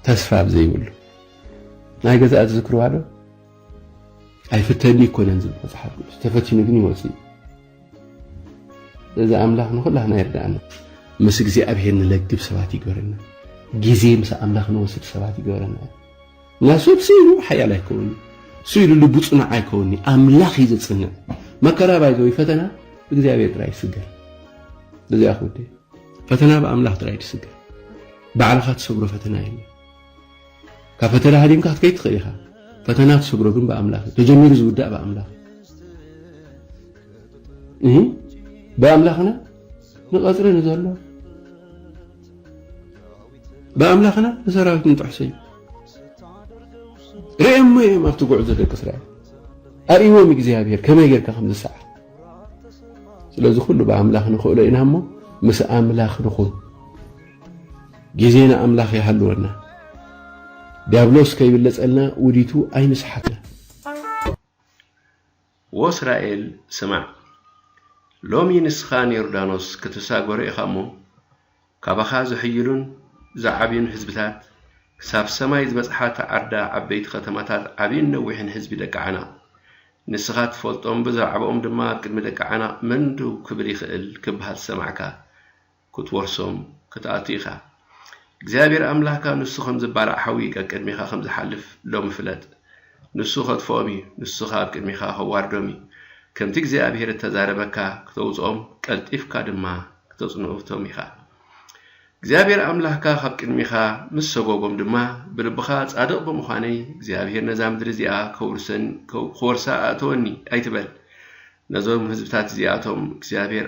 ተስፋ ኣብ ዘይብሉ ናይ ገዛእ ዝዝክርዋዶ ኣይፍተኒ ይኮነን ዝብል መፅሓፍ ቅዱስ ተፈቲኑ ግን ይወፅ እዩ እዚ ኣምላኽ ንኩላህና ይርዳእና ምስ እግዚኣብሄር ንለግብ ሰባት ይግበረና ግዜ ምስ ኣምላኽ ንወስድ ሰባት ይግበረና እና ሰብ ስኢሉ ሓያል ኣይከውን ስኢሉ ልቡ ፅኑዕ ኣይከውን ኣምላኽ እዩ ዘፅንዕ መከራ ባይዘ ወይ ፈተና እግዚኣብሄር ጥራይ ይስገር እዚኣ ክውደ ፈተና ብኣምላኽ ጥራይ ትስገር ባዕልኻ ትሰግሮ ፈተና የለን። ካብ ፈተና ሃዲምካ ክትከይድ ትኽእል ኢኻ። ፈተና ትሰግሮ ግን ብኣምላኽ እዩ። ተጀሚሩ ዝውዳእ ብኣምላኽ እዩ። ብኣምላኽና ንቐፅሪ ንዘሎ ብኣምላኽና ንሰራዊት ንጥሕሶ እዩ። ርእየሞ እዮም ኣብቲ ጉዕዞ ደቂ እስራኤል ኣርእዎም እግዚኣብሔር ከመይ ጌርካ ከም ዝሰዓር ስለዚ ኩሉ ብኣምላኽ ንኽእሎ ኢና እሞ ምስ ኣምላኽ ንኹን ጊዜ ንኣምላኽ ይሃልወና ድያብሎስ ከይብለጸልና ውዲቱ ኣይንስሓትና። ወእስራኤል ስማዕ፣ ሎሚ ንስኻ ንዮርዳኖስ ክትሳገሮ ኢኻ እሞ፣ ካባኻ ዝሕይሉን ዝዓብዩን ህዝብታት፣ ክሳብ ሰማይ ዝበጽሓ ተዓርዳ ዓበይቲ ኸተማታት ዓብይን ነዊሕን ህዝቢ ደቂ ዓናቕ፣ ንስኻ ትፈልጦም ብዛዕባኦም ድማ ኣብ ቅድሚ ደቂ ዓናቕ መን ደው ክብል ይኽእል ክብሃል ዝሰማዕካ፣ ክትወርሶም ክትኣቱ ኢኻ። እግዚኣብሄር ኣምላኽካ ንሱ ኸም ዝባላዕ ሓዊ ቀቅድሜኻ ኸም ዝሓልፍ ሎሚ ፍለጥ። ንሱ ኸጥፍኦም እዩ፣ ንሱ ኸኣ ኣብ ቅድሜኻ ኸዋርዶም እዩ። ከምቲ እግዚኣብሄር እተዛረበካ ክተውጽኦም፣ ቀልጢፍካ ድማ ክተጽንኡቶም ኢኻ። እግዚኣብሄር ኣምላኽካ ኻብ ቅድሜኻ ምስ ሰጐጎም ድማ፣ ብልብኻ ጻድቕ ብምዃነይ፣ እግዚኣብሄር ነዛ ምድሪ እዚኣ ኸውርሰኒ ኸወርሳ ኣእተወኒ ኣይትበል። ነዞም ህዝብታት እዚኣቶም እግዚኣብሄር።